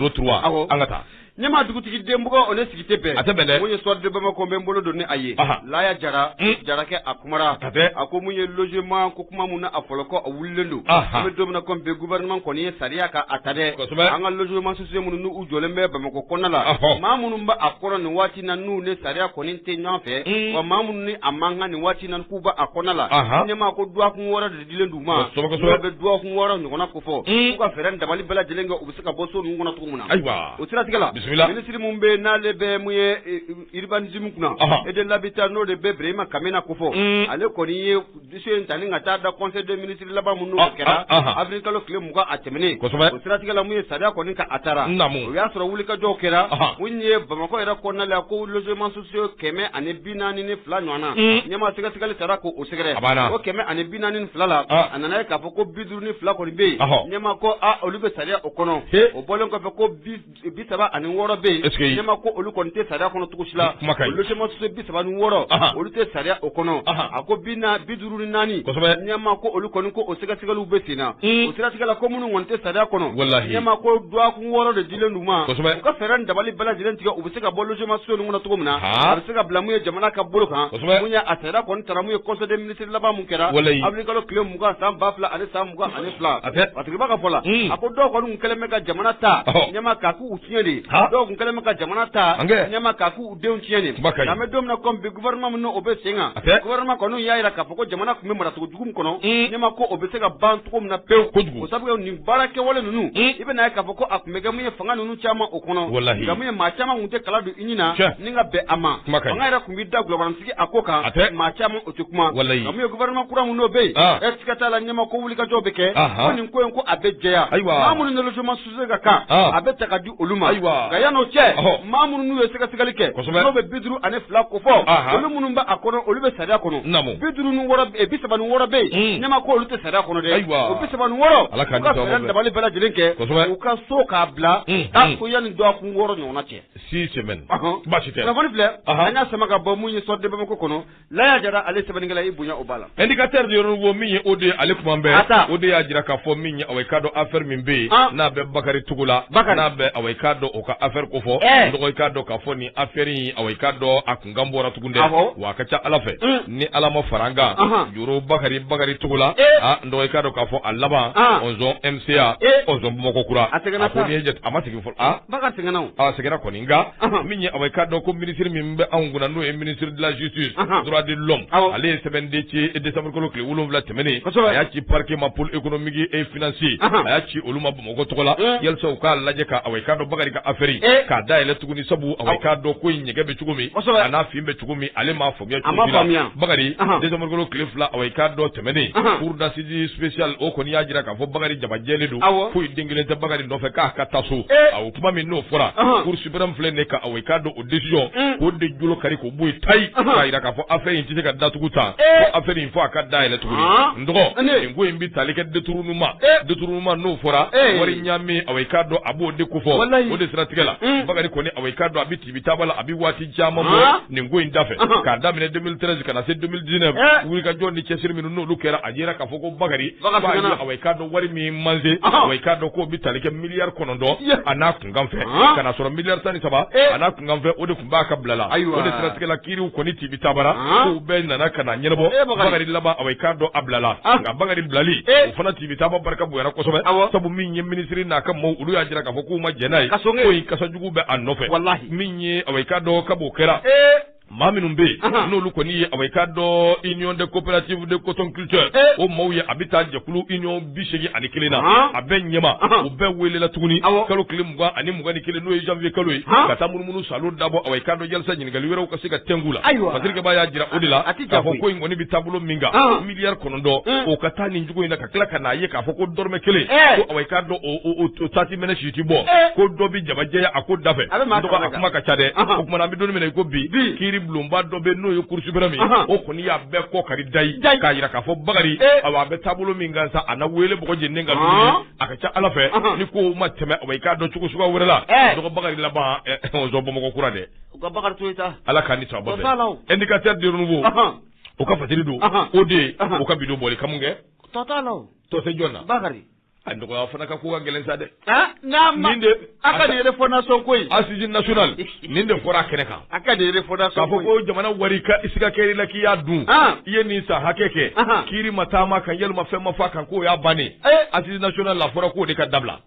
03 awɔ an ka taa ɲɛma dugutigi den bugɔ o ni sigi tɛ bɛn a tɛ bɛn dɛ mun ye soir de bamakɔ n bɛ n bolo don ni a ye laya jara jarakɛ a kumara a ko mun ye logement ko kuma mun na a fɔlɔkɔ a wulilen don an bɛ don min na komi bi gouvernement kɔni ye sariya ka a ta dɛ an ka logements sociaux minnu n'u jɔlen bɛ bamakɔ kɔnɔna la maa minnu bɛ a kɔnɔ nin waati na n'u ni sariya kɔni tɛ ɲɔgɔn fɛ wa maa minnu ni a man kan nin waati na k'u bɛ a kɔnɔna la ɲɛma ko dɔgɔkun wɔɔrɔ de dilen d'u ma, kosɛbɛ kosɛbɛ, n'u bɛ dɔgɔkun wɔɔrɔ ɲɔgɔnna ko fɔ, un, k'u ka fɛɛrɛ ni dabali bɛɛ lajɛlen kɛ u bɛ se ka bɔ so ninnu kɔnɔ cogo min na, ayiwa, o siratigɛ la, bisimila, minisiri min bɛ yen n'ale bɛ mun ye urbanisme kunna, ɔhɔ, et de l'habitat n'o de bɛ Birahima Kamena ko fɔ, un, ale kɔni ye dossier in ta ni ka taa da conseil des ministres laban min n'o ah, kɛra ah, ah, avril kalo tile mugan a tɛmɛnen, kosɛbɛ, o siratigɛ la mun ye sariya kɔni ka a taara, naamu, o y'a sɔrɔ wulikajɔw kɛra, ɔhɔ, mun ye Bamakɔ yɛrɛ kɔnɔna la ko logement sociaux kɛmɛ ani bi naani ni fila ɲɔgɔn na ɲɛma sɛgɛsɛgɛli taara ko o sɛgɛrɛ o kɛmɛ ani bi naani ni fila la a nana ye k'a fɔ ko bi duuru ni fila kɔni bɛ yen ɲɛma ko olu bɛ sariya o kɔnɔ o bɔlen kɔfɛ ko bi saba ani wɔɔrɔ bɛ yen ɲɛma ko olu kɔni tɛ sariya kɔnɔ cogo si la logements sociaux bi saba ni wɔɔrɔ olu tɛ sariya o kɔnɔ a ko bi duuru ni naani ɲɛma ko olu kɔni ko o sɛgɛsɛgɛliw bɛ sen na o siratigɛ la ko minnu kɔni tɛ sariya kɔnɔ ɲɛma ko dɔgɔkun wɔɔrɔ de dilen d'u ma u ka fɛɛrɛ dabali bɛɛ lajɛlen tigɛ u bɛ se ka bɔ logements sociaux ninnu kɔnɔ cogo min na a bɛ se ka bila mun ye jamana ka bolo kan mun ye a sariya kɔni taara mun ye conseil des ministres laban min kɛra avril kalo tile mugan san ba fila ani san mugan ani fila a tigiba ka fɔ la a ko dɔw kɔni kɛlen bɛ ka jamana ta ɲɛma k'a k'u tiɲɛ de dɔw kun kɛlen bɛ ka jamana ta ɲɛma ka denw tiɲɛ nin kuma ka ɲi an bɛ don min na comme bi gouvernement min n'o bɛ sen kan a tɛ gouvernement kɔni y'a jira k'a fɔ ko jamana tun bɛ maracogo jugu min kɔnɔ ɲɛma ko o bɛ se ka ban cogo min na pewu kojugu o sabu nin baara kɛwale ninnu i bɛna ye k'a fɔ ko a tun bɛ kɛ mun ye fanga ninnu caman o kɔnɔ walahi nka mun ye maa caman tun tɛ kala dɔn i ni na ni ka bɛn a ma kuma ka ɲi fanga yɛrɛ tun bɛ da gulɔbaransigi a ko kan a tɛ maa caman o tɛ kuma walahi nka mun ye gouvernement kura min n'o bɛ yen e siga t'a la ɲɛma ko wulikajɔw bɛ kɛ ko nin ko in ko a bɛ jɛya ayiwa maa minnu nalojo ma ka kan a bɛ ta ka di olu ma nka yanni o cɛ maa minnu n'u ye sɛgɛsɛgɛli kɛ n'o bɛ bi duuru ani fila ko fɔ olu minnu bɛ a kɔnɔ olu bɛ sariya kɔnɔ bi duuru bi saba ni wɔɔrɔ bɛ yen ɲɛma ko olu tɛ sariya kɔnɔ dɛ o bi saba ni wɔɔrɔ u ka fɛɛrɛ ani dabali bɛɛ lajɛlen kɛ u ka so k'a bila tan ko yanni dɔgɔkun wɔɔrɔ ɲɔgɔnna cɛ six semaines baasi tɛ kunnafoni filɛ an y'a sama ka bɔ mun ye Soir de Bamako kɔnɔ Laya Jara ale sɛbɛnnikɛla i bonya o b'a la indicateur du renouveau min ye o de ye ale kuma bɛɛ Ata. o de y'a jira k'a fɔ min ye awɔ i k'a dɔn affaire min bɛ yen Ah. n'a bɛ Bakari Togola Bakari. n'a bɛ awɔ i k'a dɔn o ka affaire ko fɔ Eh. n dɔgɔ i k'a dɔn k'a fɔ nin affaire in awɔ i k'a dɔn a kunkan bɔra tugun dɛ Awɔ. wa a ka ca Ala fɛ Mm. ni Ala ma fara an kan Ahan. Joro Bakari Bakari Togola Eh. ah n dɔgɔ i k'a dɔn k'a fɔ a laban Ah. Ɔnzɔn MCA Eh. Ɔnzɔn Bamakɔ kura A sɛgɛnna ko sa. n'i ye jate a ma sɛgɛn Bakari sɛgɛnna a sɛgɛnna kɔni nka min ye awɔ i k'a dɔn ko ministre min bɛ anw kunna n'o ye ministre de la justice droit de l'homme ale ye sɛbɛn de ci décembre kalo tile wolonwula tɛmɛnen a y'a ci parquet ma pôle économique et financier a y'a ci olu ma bamakɔ tɔgɔ la yalisa u k'a lajɛ ka awɔ i k'a dɔn Bakari ka affaire k'a dayɛlɛ tuguni sabu awɔ i k'a dɔn ko in ɲɛgɛn bɛ cogo min a n'a fin bɛ cogo min ale ma fɔ A ma faamuya Bakari décembre kalo tile fila awɔ i k'a dɔn tɛmɛnen cour d'assises spéciale o kɔni y'a jira k'a fɔ Bakari jabajɛlen don foyi den kelen tɛ Bakari nɔfɛ k'a ka taa so awɔ kuma min n'o fɔra cour suprême filɛ nin ka awɔ i k'a dɔn o décision k'o de jolo kari k'o bɔ yen tayi k'a jira k'a fɔ affaire in tɛ se ka datugu tan affaire in fɔ a ka dayɛlɛ tugun n dɔgɔ nin ko in bɛ tali kɛ détournement détournement n'o fɔra wari ɲaami awɔ i k'a dɔn a b'o de ko fɔ o de siratigɛ la Bakari kɔni awɔ i k'a dɔn a tibi taba la a bɛ waati caman bɔ ah. nin ko in da fɛ ah. k'a daminɛ 2013 ka na se 2019 eh. wulikajɔ ni cɛsiri minnu n'olu kɛra a yera k'a fɔ ko bakari awa i k'a dɔn wari min manse ah. awa i k'a dɔn k'o bɛ tali kɛ miliyari kɔnɔntɔn a n'a kunkan fɛ ka na sɔrɔ miliyari tan ni saba eh. a n'a kunkan fɛ o de tun b'a ka bila la o de siratigɛ la kiiriw kɔni tibi tabara k'u bɛɛ nana ka na ɲɛnabɔ eh, bakari laban awa i k'a dɔn a bilala nka bakari bilali o fana tibi taba barika bonyana kosɛbɛ sabu min ye minisiri n'a ka maaw olu y'a jira k'a fɔ k'u ma jɛn n'a ye ko in kasa jugu bɛ a nɔfɛ walahi min ye awɔ i k'a dɔn kab'o kɛra maa minnu bɛ yen n'olu kɔni ye awɔ i k'a dɔn union de coopérative de cotonculture o maaw ye a bɛ taa jɛkulu union bi segin ani kelen na a bɛ ɲɛma u bɛɛ welela tuguni kalo tile mugan ani mugan ni kelen n'o ye janvier kalo ye ka taa munumunu salo dabɔ awɔ i k'a dɔn yalisa ɲininkali wɛrɛw ka se ka tɛngu la ayiwa article ba y'a jira o de la k'a fɔ ko in kɔni bɛ taabolo min kan miliyari kɔnɔntɔn o ka taa nin cogo in na ka tila ka n'a ye k'a fɔ ko dɔrɔmɛ kelen ko awɔ i k'a dɔn tati minɛ si ti bɔ ko dɔ bɛ jabajɛya a ko dafɛ a kuma ka ca dɛ o kumana an bɛ don min na i ko bi kiiri bulonba dɔ bɛ n'o ye cour suprême o kɔni y'a bɛɛ kɔ kari dayi k'a jira k'a fɔ Bakari a a bɛ taabolo min kan sa a na wele bɔ lajɛlen ka a ka ca ala fɛ ni ko ma tɛmɛ awɔ i k'a dɔn cogo suguya wɛrɛ la dɔgɔ Bakari laban bamakɔ kura dɛ ala k'a ni saba indicateur du renouveau o ka fatiri don o de ye o ka bidon bɔli ka mun kɛ tɔ t'a la tɔse jɔn na bakari a nɔgɔya fana ka ko ka gɛlɛn sa dɛ n'a ma nin de a ka nin refondation ko in assise nationale nin de fɔra a kɛnɛ kan a ka nin refondation k'a fɔ ko jamana wari ka i siga kɛr'i la k'i y'a dun i ye nin san hakɛ kɛ kiiri ma taama kan walima fɛn ma fɔ a kan k'o y'a bannen assise nationale la a fɔra k'o de ka dabila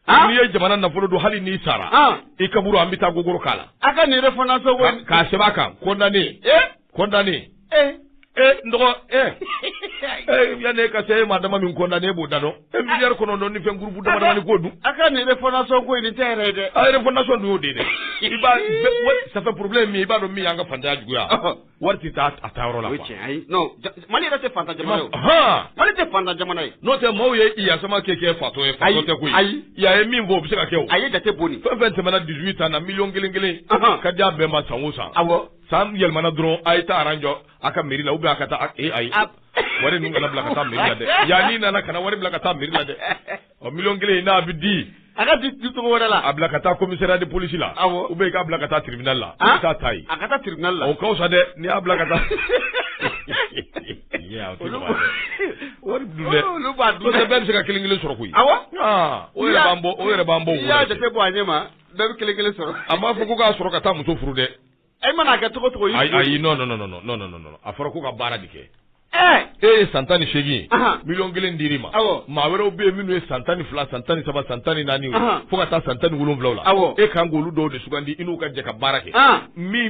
n'i ye jamana nafolo dun hali n'i sara i kaburu an bɛ taa gogoro k'a la a ka nin refondation k'a sɛbɛn a kan condamné ee condamné ee ee n dɔgɔ ee ee yanni e ka se e maa dama min condamné e b'o da dɔn e miliyari kɔnɔntɔn ni fɛn gurupu dama damani k'o dun a ka nin refondation ko nin tɛ yɛrɛ ye dɛ a refondation dun y'o de ye dɛ Iba ça fait problème min i b'a dɔn min y'an ka faantanya juguya Wari tɛ taa a taa yɔrɔ la quoi o ye tiɲɛ ye ayi non ja j Mali yɛrɛ tɛ faantan jamana ye o haan Mali tɛ faantan jamana ye n'o tɛ maaw ye Yeah Samake kɛ fatɔ ye fatɔ tɛ koyi ayi ayi i y'a ye min fɔ o bɛ se ka kɛ o a ye jate bɔ ni fɛn fɛn tɛmɛna 18 ans na million kelen-kelen ɔnhɔn ka di a bɛɛ ma san o san awɔ san yɛlɛmana dɔrɔn a ye taa rang jɔ a ka mairie la ou bien a ka taa a k ee ayi ab wari ninnu kana bila ka taa mairie la dɛ yani i nana kana wari bila ka taa mairie la dɛ ɔ miliyɔn kelen in n'a bɛ di a ka di cogo wɛrɛ la a bila ka taa commissariat de police la awɔ ou bien i k'a bila ka taa tribunal la i k'a ta yen a ka taa tribunal la o ka fisa dɛ n'i y'a bila ka taa wari dun dɛ olu b'a dun dɛ bɛɛ bɛ se ka kelen kelen sɔrɔ koyi awɔ o yɛrɛ b'an bɔ o yɛrɛ b'an bɔ o yɛrɛ bɛ i y'a jate bɔ a ɲɛ ma bɛɛ bɛ kelen kelen sɔrɔ a m'a fɔ ko k'a sɔrɔ ka taa muso furu dɛ E mana kɛ cogo cogo ayi non non a fɔra ko ka baara de kɛ e ye san tan ni segin million kelen dir'i ma maa wɛrɛw bɛ yen minnu ye san tan ni fila san tan ni saba san tan ni naani fo ka taa san tan ni wolonwula la aw e ka kan k'olu dɔw de sugandi i n'u ka jɛ ka baara kɛ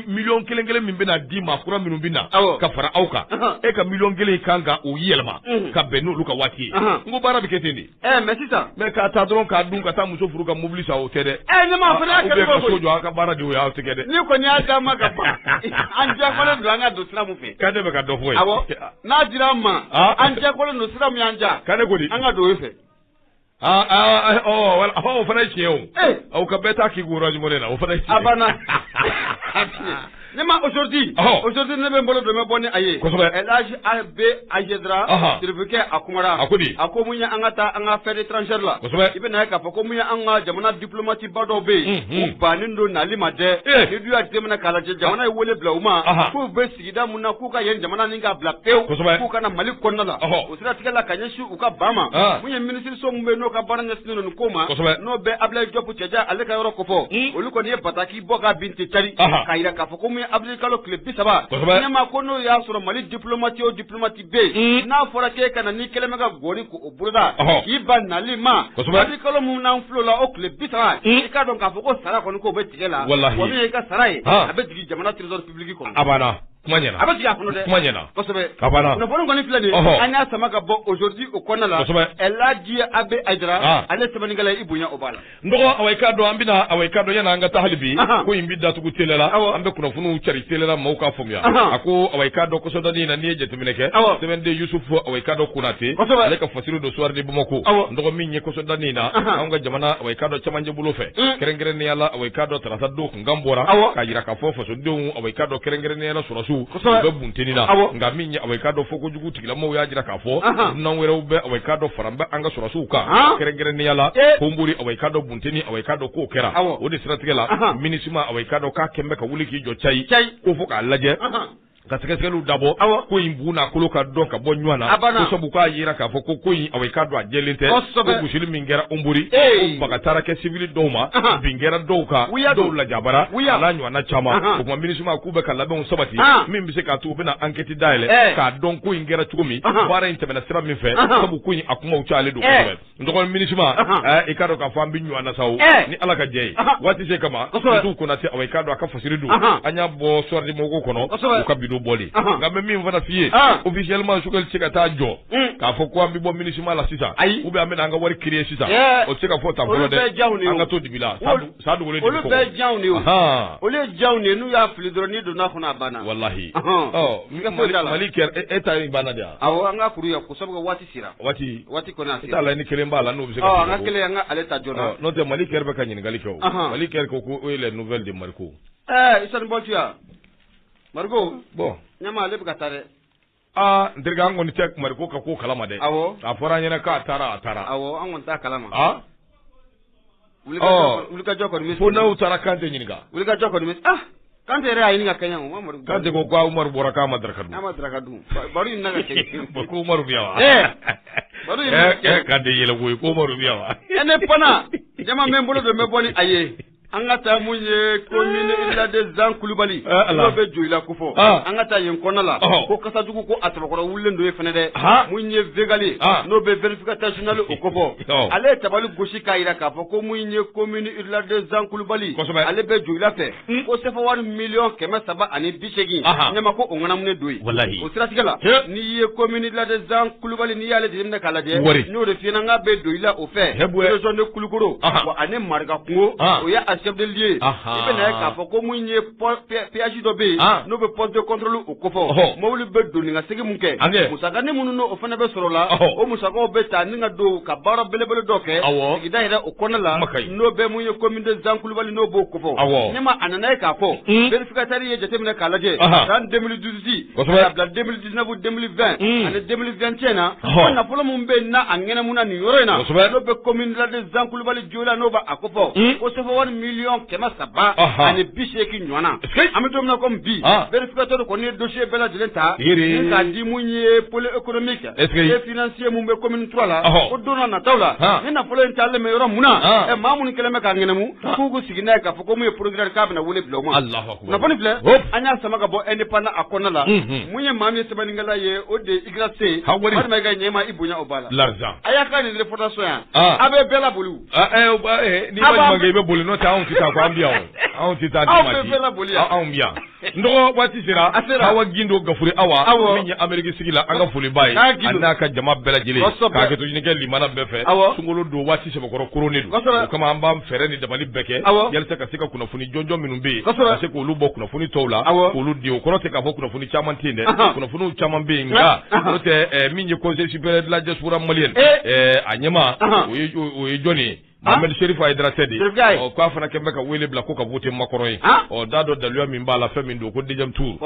million kelen kelen min bɛna di maa kura minnu bɛ na ka fara aw kan e ka million kelen kan k'o yɛlɛma ka bɛn n'olu ka waati ye n ko baara bɛ kɛ ten de Ɛɛ mais sisan mais ka taa dɔrɔn k'a dun ka taa muso furu ka mobili san o tɛ dɛ ne ma fana so jɔ aw ka baara de o y'aw tigɛ dɛ ne kɔni y'a d'a ma ka ban an jɛkɔlen don an ka don sira mun fɛ ka ne bɛ ka dɔ fɔ ye n'a dira an ma an jɛkɔlen don sira mun y'an ja ka ne ko an ka don e fɛ aaa o fana ye tiɲɛ o aw ka bɛɛ taa k'i ko jumɛn na o fana a banna Ne ma aujourd'hui aujourd'hui ne bɛ n bolo dɔmɛ bɔ ni a y'a lajɛ AB azedra serifikɛ a kumara a ko a ko mun ye an ka taa an ka affaires étrangères la i bɛn'a ye k'a fɔ ko mun ye an ka jamana diplomatique ba dɔw bɛ yen u bannen don nali ma dɛ n'i dun y'a jateminɛ k'a lajɛ jamana ye wele bila u ma k'u bɛ sigida min na k'u ka yen jamana nin ka bila pewu k'u ka na Mali kɔnɔna la o siratigɛ la ka ɲɛsin u ka ban ma mun ye minisiriso min bɛ n'o ka baara ɲɛsin ninnu ko ma n'o bɛ Ablayi Jɔpu cɛ ale ka yɔrɔ kɔfɔ olu kɔni ye bataki bɔ ka bin ten cari Aha. k'a jira k'a fɔ ko mun ye avril kalo tile bi saba Kosɛbɛ. ne ma ko n'o y'a sɔrɔ mali diplomati o diplomati bɛ Mm. yen n'a fɔra k'e ka na n'i kɛlen bɛ ka gɔni ko o boloda Ɔhɔ. k'i ban nali ma Kosɛbɛ. avril kalo min na fɔlɔ la o tile bi saba Mm. i k'a dɔn k'a fɔ ko sara kɔni k'o bɛ tigɛ la Walahi. wa min ye i ka sara ye Ha. a bɛ jigin jamana trésor public kɔnɔ a banna kuma ɲɛna a bɛ jigin a kɔnɔ dɛ kuma ɲɛna kosɛbɛ A banna. kunnafoni kɔni filɛ nin ye Ɔhɔ. an y'a sama ka bɔ aujourd'hui o kɔnɔna la Kosɛbɛ. ɛlaji AB Ayidara Ah. ale sɛbɛnnikɛla i bonya o b'a la n dɔgɔ awa i k'a dɔn an bɛna awa i k'a dɔn yanni an ka taa hali bi ko in bɛ datugu tele la an bɛ kunnafoniw cari tele la maaw k'a faamuya a ko awa i k'a dɔn kɔsɔdɔni in na n'i ye jateminɛ kɛ sɛbɛnden yusufu awa i k'a dɔn konate ale ka fasiri don Soir de Bamako n dɔgɔ min ye kɔsɔdɔni in na an ka jamana awa i k'a dɔn cɛmancɛ bolo fɛ kɛrɛnkɛrɛnnenya la awa i k'a dɔn tarata don n kan bɔra k'a jira k'a fɔ fasodenw awa i k'a dɔn kɛrɛnkɛrɛnnenya sɔrɔdasiw u bɛ bunteni na nka min ye awa i k'a dɔn fo kojugu tigilamɔgɔw y'a jira k'a fɔ dunan wɛrɛw bɛ awa i k'a dɔn faralen bɛ an ka sɔrɔdasiw kan kɛrɛnkɛrɛnnenya la eh. Honbori awa i k'a dɔn bunteni awa i k'a dɔn k'o kɛra o de siratigɛ la MINUSMA awa i k'a dɔn k'a kɛlen bɛ ka wuli k'i jɔ cayi ko fo k'a lajɛ ka sɛgɛsɛgɛliw dabɔ ko in bu n'a kolo ka dɔn ka bɔ ɲɔgɔn na sabu k'a jira k'a fɔ ko ko in awa i k'a dɔn a jɛlen tɛ ko gosili min kɛra Honbori ko baga taara kɛ civil dɔw ma bin kɛra dɔw kan dɔw lajabara a n'a ɲɔgɔnna caman o tuma MINUSMA k'u bɛ ka labɛnw sabati min bɛ se k'a to u bɛna ankɛti dayɛlɛ k'a dɔn ko in kɛra cogo min baara in tɛmɛna sira min fɛ sabu ko in a kumaw cayalen don kosɛbɛ N dɔgɔ MINUSMA i k'a dɔn k'a fɔ an bɛ ɲɔgɔn na sa ni ala ka jɛ ye waati se kama tu kona se awa i k'a dɔn a ka fasiri don an y'a bɔ Soir de Bamako kɔnɔ ka bi don bɔli nka n bɛ min fana f'i ye officiellement Choguel tɛ se ka taa jɔ k'a fɔ ko an bɛ bɔ MINUSMA la sisan ayi u bɛ an bɛna an ka wari créer sisan o tɛ se ka fɔ tan fɔlɔ dɛ an ka to dibi la sa jɔ de ye olu ye jɔ de ye n'u y'a fili dɔrɔn n'i donna kɔnɔ a banna walahi mali kɛra e ta banna dɛ an ka kuru waati waati t'a la ni kelen b'a la n'o bɛ se ka kelen an ka ale ta joona n'o tɛ mali kɛra bɛ ka ɲininkali kɛ mali kɛra ko ko les nouvelles de Mariko ɛɛ isa bɔya Mariko bɔn ɲa ale bɛ ka taa dɛ aa n terikɛ an kɔni tɛ Mariko ka ko kalama dɛ a fɔra an ɲɛna k'a taara a taara an kɔni t'a kalama wulikajɔ kɔni fo n'aw taara Kante ɲininka wulikajɔ kɔni ah Kante yɛrɛ y'a ɲini ka kɛɲɛ o Umaru Kante ko ko Umaru bɔra k'a ma daraka dun k'a ma daraka dun baro in na ka kɛ ko ko Umaru bɛ yan wa baro in na ka kɛ Kante yɛlɛ ko ye ko Umaru bɛ yan wa ɛ ne pana jama bɛ n bolo don n bɛ bɔ ni a ye an ka taa mun ye commune rurale de zan kulubali n'o bɛ Joyila ko fɔ an ka taa yen kɔnɔna la ko kasajugu ko a tɔgɔkɔrɔ wulilen don yen fana dɛ mun ye Vegali n'o bɛ vérificateur général o ko fɔ ale ye tabali gosi k'a jira k'a fɔ ko mun ye commune rurale de zan kulubali ale bɛ joyila fɛ hmm. ko sefa wari miliyɔn kɛmɛ saba ani bi seegin ɲɛma ko o ŋanamunen don o siratigɛ la n'i ye commune rurale de zan kulubali n'i y'ale jateminɛ k'a lajɛ n'o de fiɲɛna ka bɛ joyila o fɛ région de kulukoro ani marakakungo o ye a chef de lieu i bɛna a ye k'a fɔ ko mun ye péage dɔ bɛ yen n'o bɛ poste de contrôle o ko fɔ mobili bɛ don ni ka segin min kɛ musakanin minnu o fana bɛ sɔrɔ la o musakaw bɛ ta ni ka don ka baara belebele dɔ kɛ sigida yɛrɛ o kɔnɔna la n'o bɛ mun ye commune de zan kulubali n'o b'o ko fɔ ne ma a nana ye k'a fɔ vérificateur ye jateminɛ k'a lajɛ san deux mille dix-huit ka bila deux mille dix-neuf deux mille vingt ani deux mille vingt et un cɛ na nafolo min bɛ na a ŋɛnɛmuna nin yɔrɔ in na n'o bɛ commune zan kulubali joyila n'o b'a ko fɔ ko sefa wari miliyɔn kɛmɛ saba ani bi seeki ɲɔgɔnna an bɛ don min na komi bi vérificateur kɔni ye dossier bɛɛ lajɛlen ta k'a di mun ye pôle économique et financier min bɛ commune trois la ko don na nataw la ni nafolo in taalen bɛ yɔrɔ min na ɛ maa minnu kɛlen bɛ k'a ŋɛnɛmu k'u ko sigi n'a ye k'a fɔ ko mun ye procureur k'a bɛna wele bila u ma kunnafoni filɛ an y'a sama ka bɔ indépendant a kɔnɔna la mun ye maa min ye sɛbɛnnikɛla ye o de se ha wari ma ka ɲɛma i bonya o b'a la la a y'a ka nin fɔdaso yan a bɛ bɛɛ laboli ni i bɛ boli n'o tɛ anw tɛ ko an bi yan anw tɛ taa anw boli anw bi yan n dɔgɔ waati sera a sera awa gindo gafure awa min ye ameriki sigila an ka foli b'a ye a n'a ka jama bɛɛ lajɛlen ka hakɛto ɲini kɛ lamɛnna bɛɛ fɛ sunkalo don waati sɛbɛkɔrɔ koronnen don o kama an b'an fɛɛrɛ ni dabali bɛɛ kɛ yalisa ka se ka kunnafoni jɔnjɔn minnu bɛ yen ka se k'olu bɔ kunnafoni tɔw la k'olu di o kɔrɔ tɛ k'a fɔ kunnafoni caman tɛ yen dɛ kunnafoniw caman bɛ yen nka n'o tɛ min ye conseil supérieur de la diaspora malienne a ɲɛmaa o ye jɔn ye mohamed chérif haïdara tɛ de ɔ k'a fana kɛlen bɛ ka wele bila ko ka voter makɔrɔ ye ɔ da dɔ daluya min b'a la fɛn min don ko deuxième tour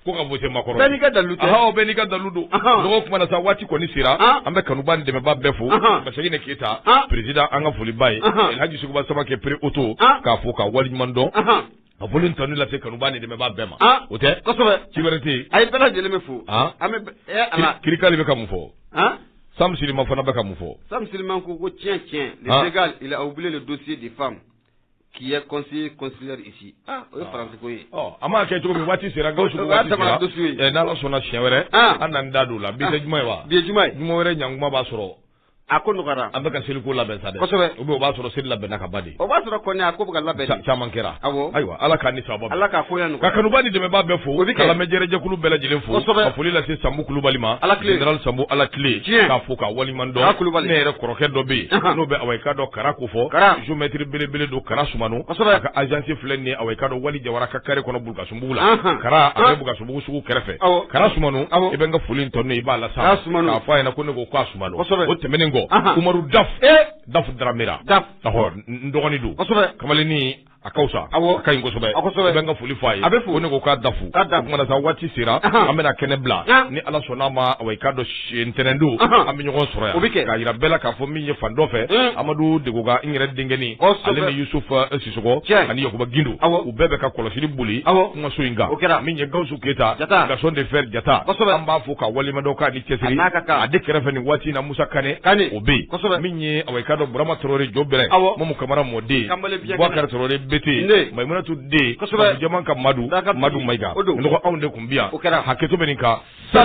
ko ka voter makɔrɔ bɛɛ n'i ka dalilu tɛ ahaw bɛɛ n'i ka dalilu don dɔgɔ kuma na sa waati kɔni sera an bɛ kanuba ni dɛmɛba bɛɛ fo basayine keyita perezida an ka foli b'a ye alhaji suguba samakɛ pere oto k'a fo k'a waleɲuman dɔn a foli ni tanu lase kanuba ni dɛmɛba bɛɛ ma o tɛ kosɛbɛ ci wɛrɛ tɛ yen a ye bɛɛ lajɛlen bɛ fo an bɛ ala kirikali bɛ ka mun fɔ sam siliman fana bɛ ka mun fɔ sam siliman ko ko tiɲɛ tiɲɛ le sénégal il a oublié le dossier des femmes Qui est conseiller consulaire ici o ye faransi ko ye an m'a kɛ cogo min waati sera ga n'ala sɔnna siɲɛ wɛrɛ an na n da don o la bi tɛ juma ye wa bi ye juma ye juma wɛrɛ ɲankuma b'a sɔrɔ a ko nɔgɔyara an bɛ ka seliko labɛn sa o o b'a sɔrɔ seli labɛnna ka ban de o b'a sɔrɔ ko a ko bɛ ka labɛn caman kɛra ayiwa ala ka ni saba ala k'a nɔgɔya an ka kanubaa ni dɛmɛba bɛɛ fo ka lamɛnjɛrɛjɛkulu bɛɛ lajɛlen fo ka foli lase sambu kulubali ma général sambu ala tile k'a fo k'a waleɲuman dɔn kulubali ne yɛrɛ kɔrɔkɛ dɔ bɛ yen n'o bɛ ka dɔn Kara ko fɔ Kara géomètre belebele don Kara Sumano kosɛbɛ a ka agence filɛ nin ye awa i k'a dɔn Wali Jawara ka carré kɔnɔ Bulukasunbugu la anhan Kara a bɛ Bulukasunbugu sugu kɛrɛfɛ awɔ Kara Sumano awɔ i bɛ n ka foli in tɔni i b'a lase Kara Sumano k'a fɔ a ɲɛna ko ne ko k'a Sumano kosɛbɛ o tɛmɛnen kɔ anhan Umaru Daf ee Daf Daramera Daf awɔ n n dɔgɔnin don kosɛbɛ kamalennin a ka wusa a ka ɲi kosɛbɛ a kosɛbɛ i bɛ n ka foli fɔ a ye ko ne ko k'a dafu o kuma na sa waati sera an bɛna kɛnɛ bila ni ala sɔnna a ma awa i k'a dɔn si ntɛnɛndon an bɛ ɲɔgɔn sɔrɔ yan o bɛ kɛ k'a yira bɛɛ la k'a fɔ min ye fan dɔ fɛ amadu degoga n yɛrɛ denkɛni ale ni yusufa sisɔgɔ ani yakuba gindo u bɛɛ bɛ ka kɔlɔsili boli kumaso in kan min ye gawusu keyita garçon de fer jata an b'a fo ka walima a de kɛrɛfɛ nin waati na musa kan kan o bɛ yen min ye a ka dɔnurama tarawele jɔ bɛ ma kamara mɔden kɛra bete mato den jama ka madu ka madu ma anw de tun bi o kɛra hakɛto kan sa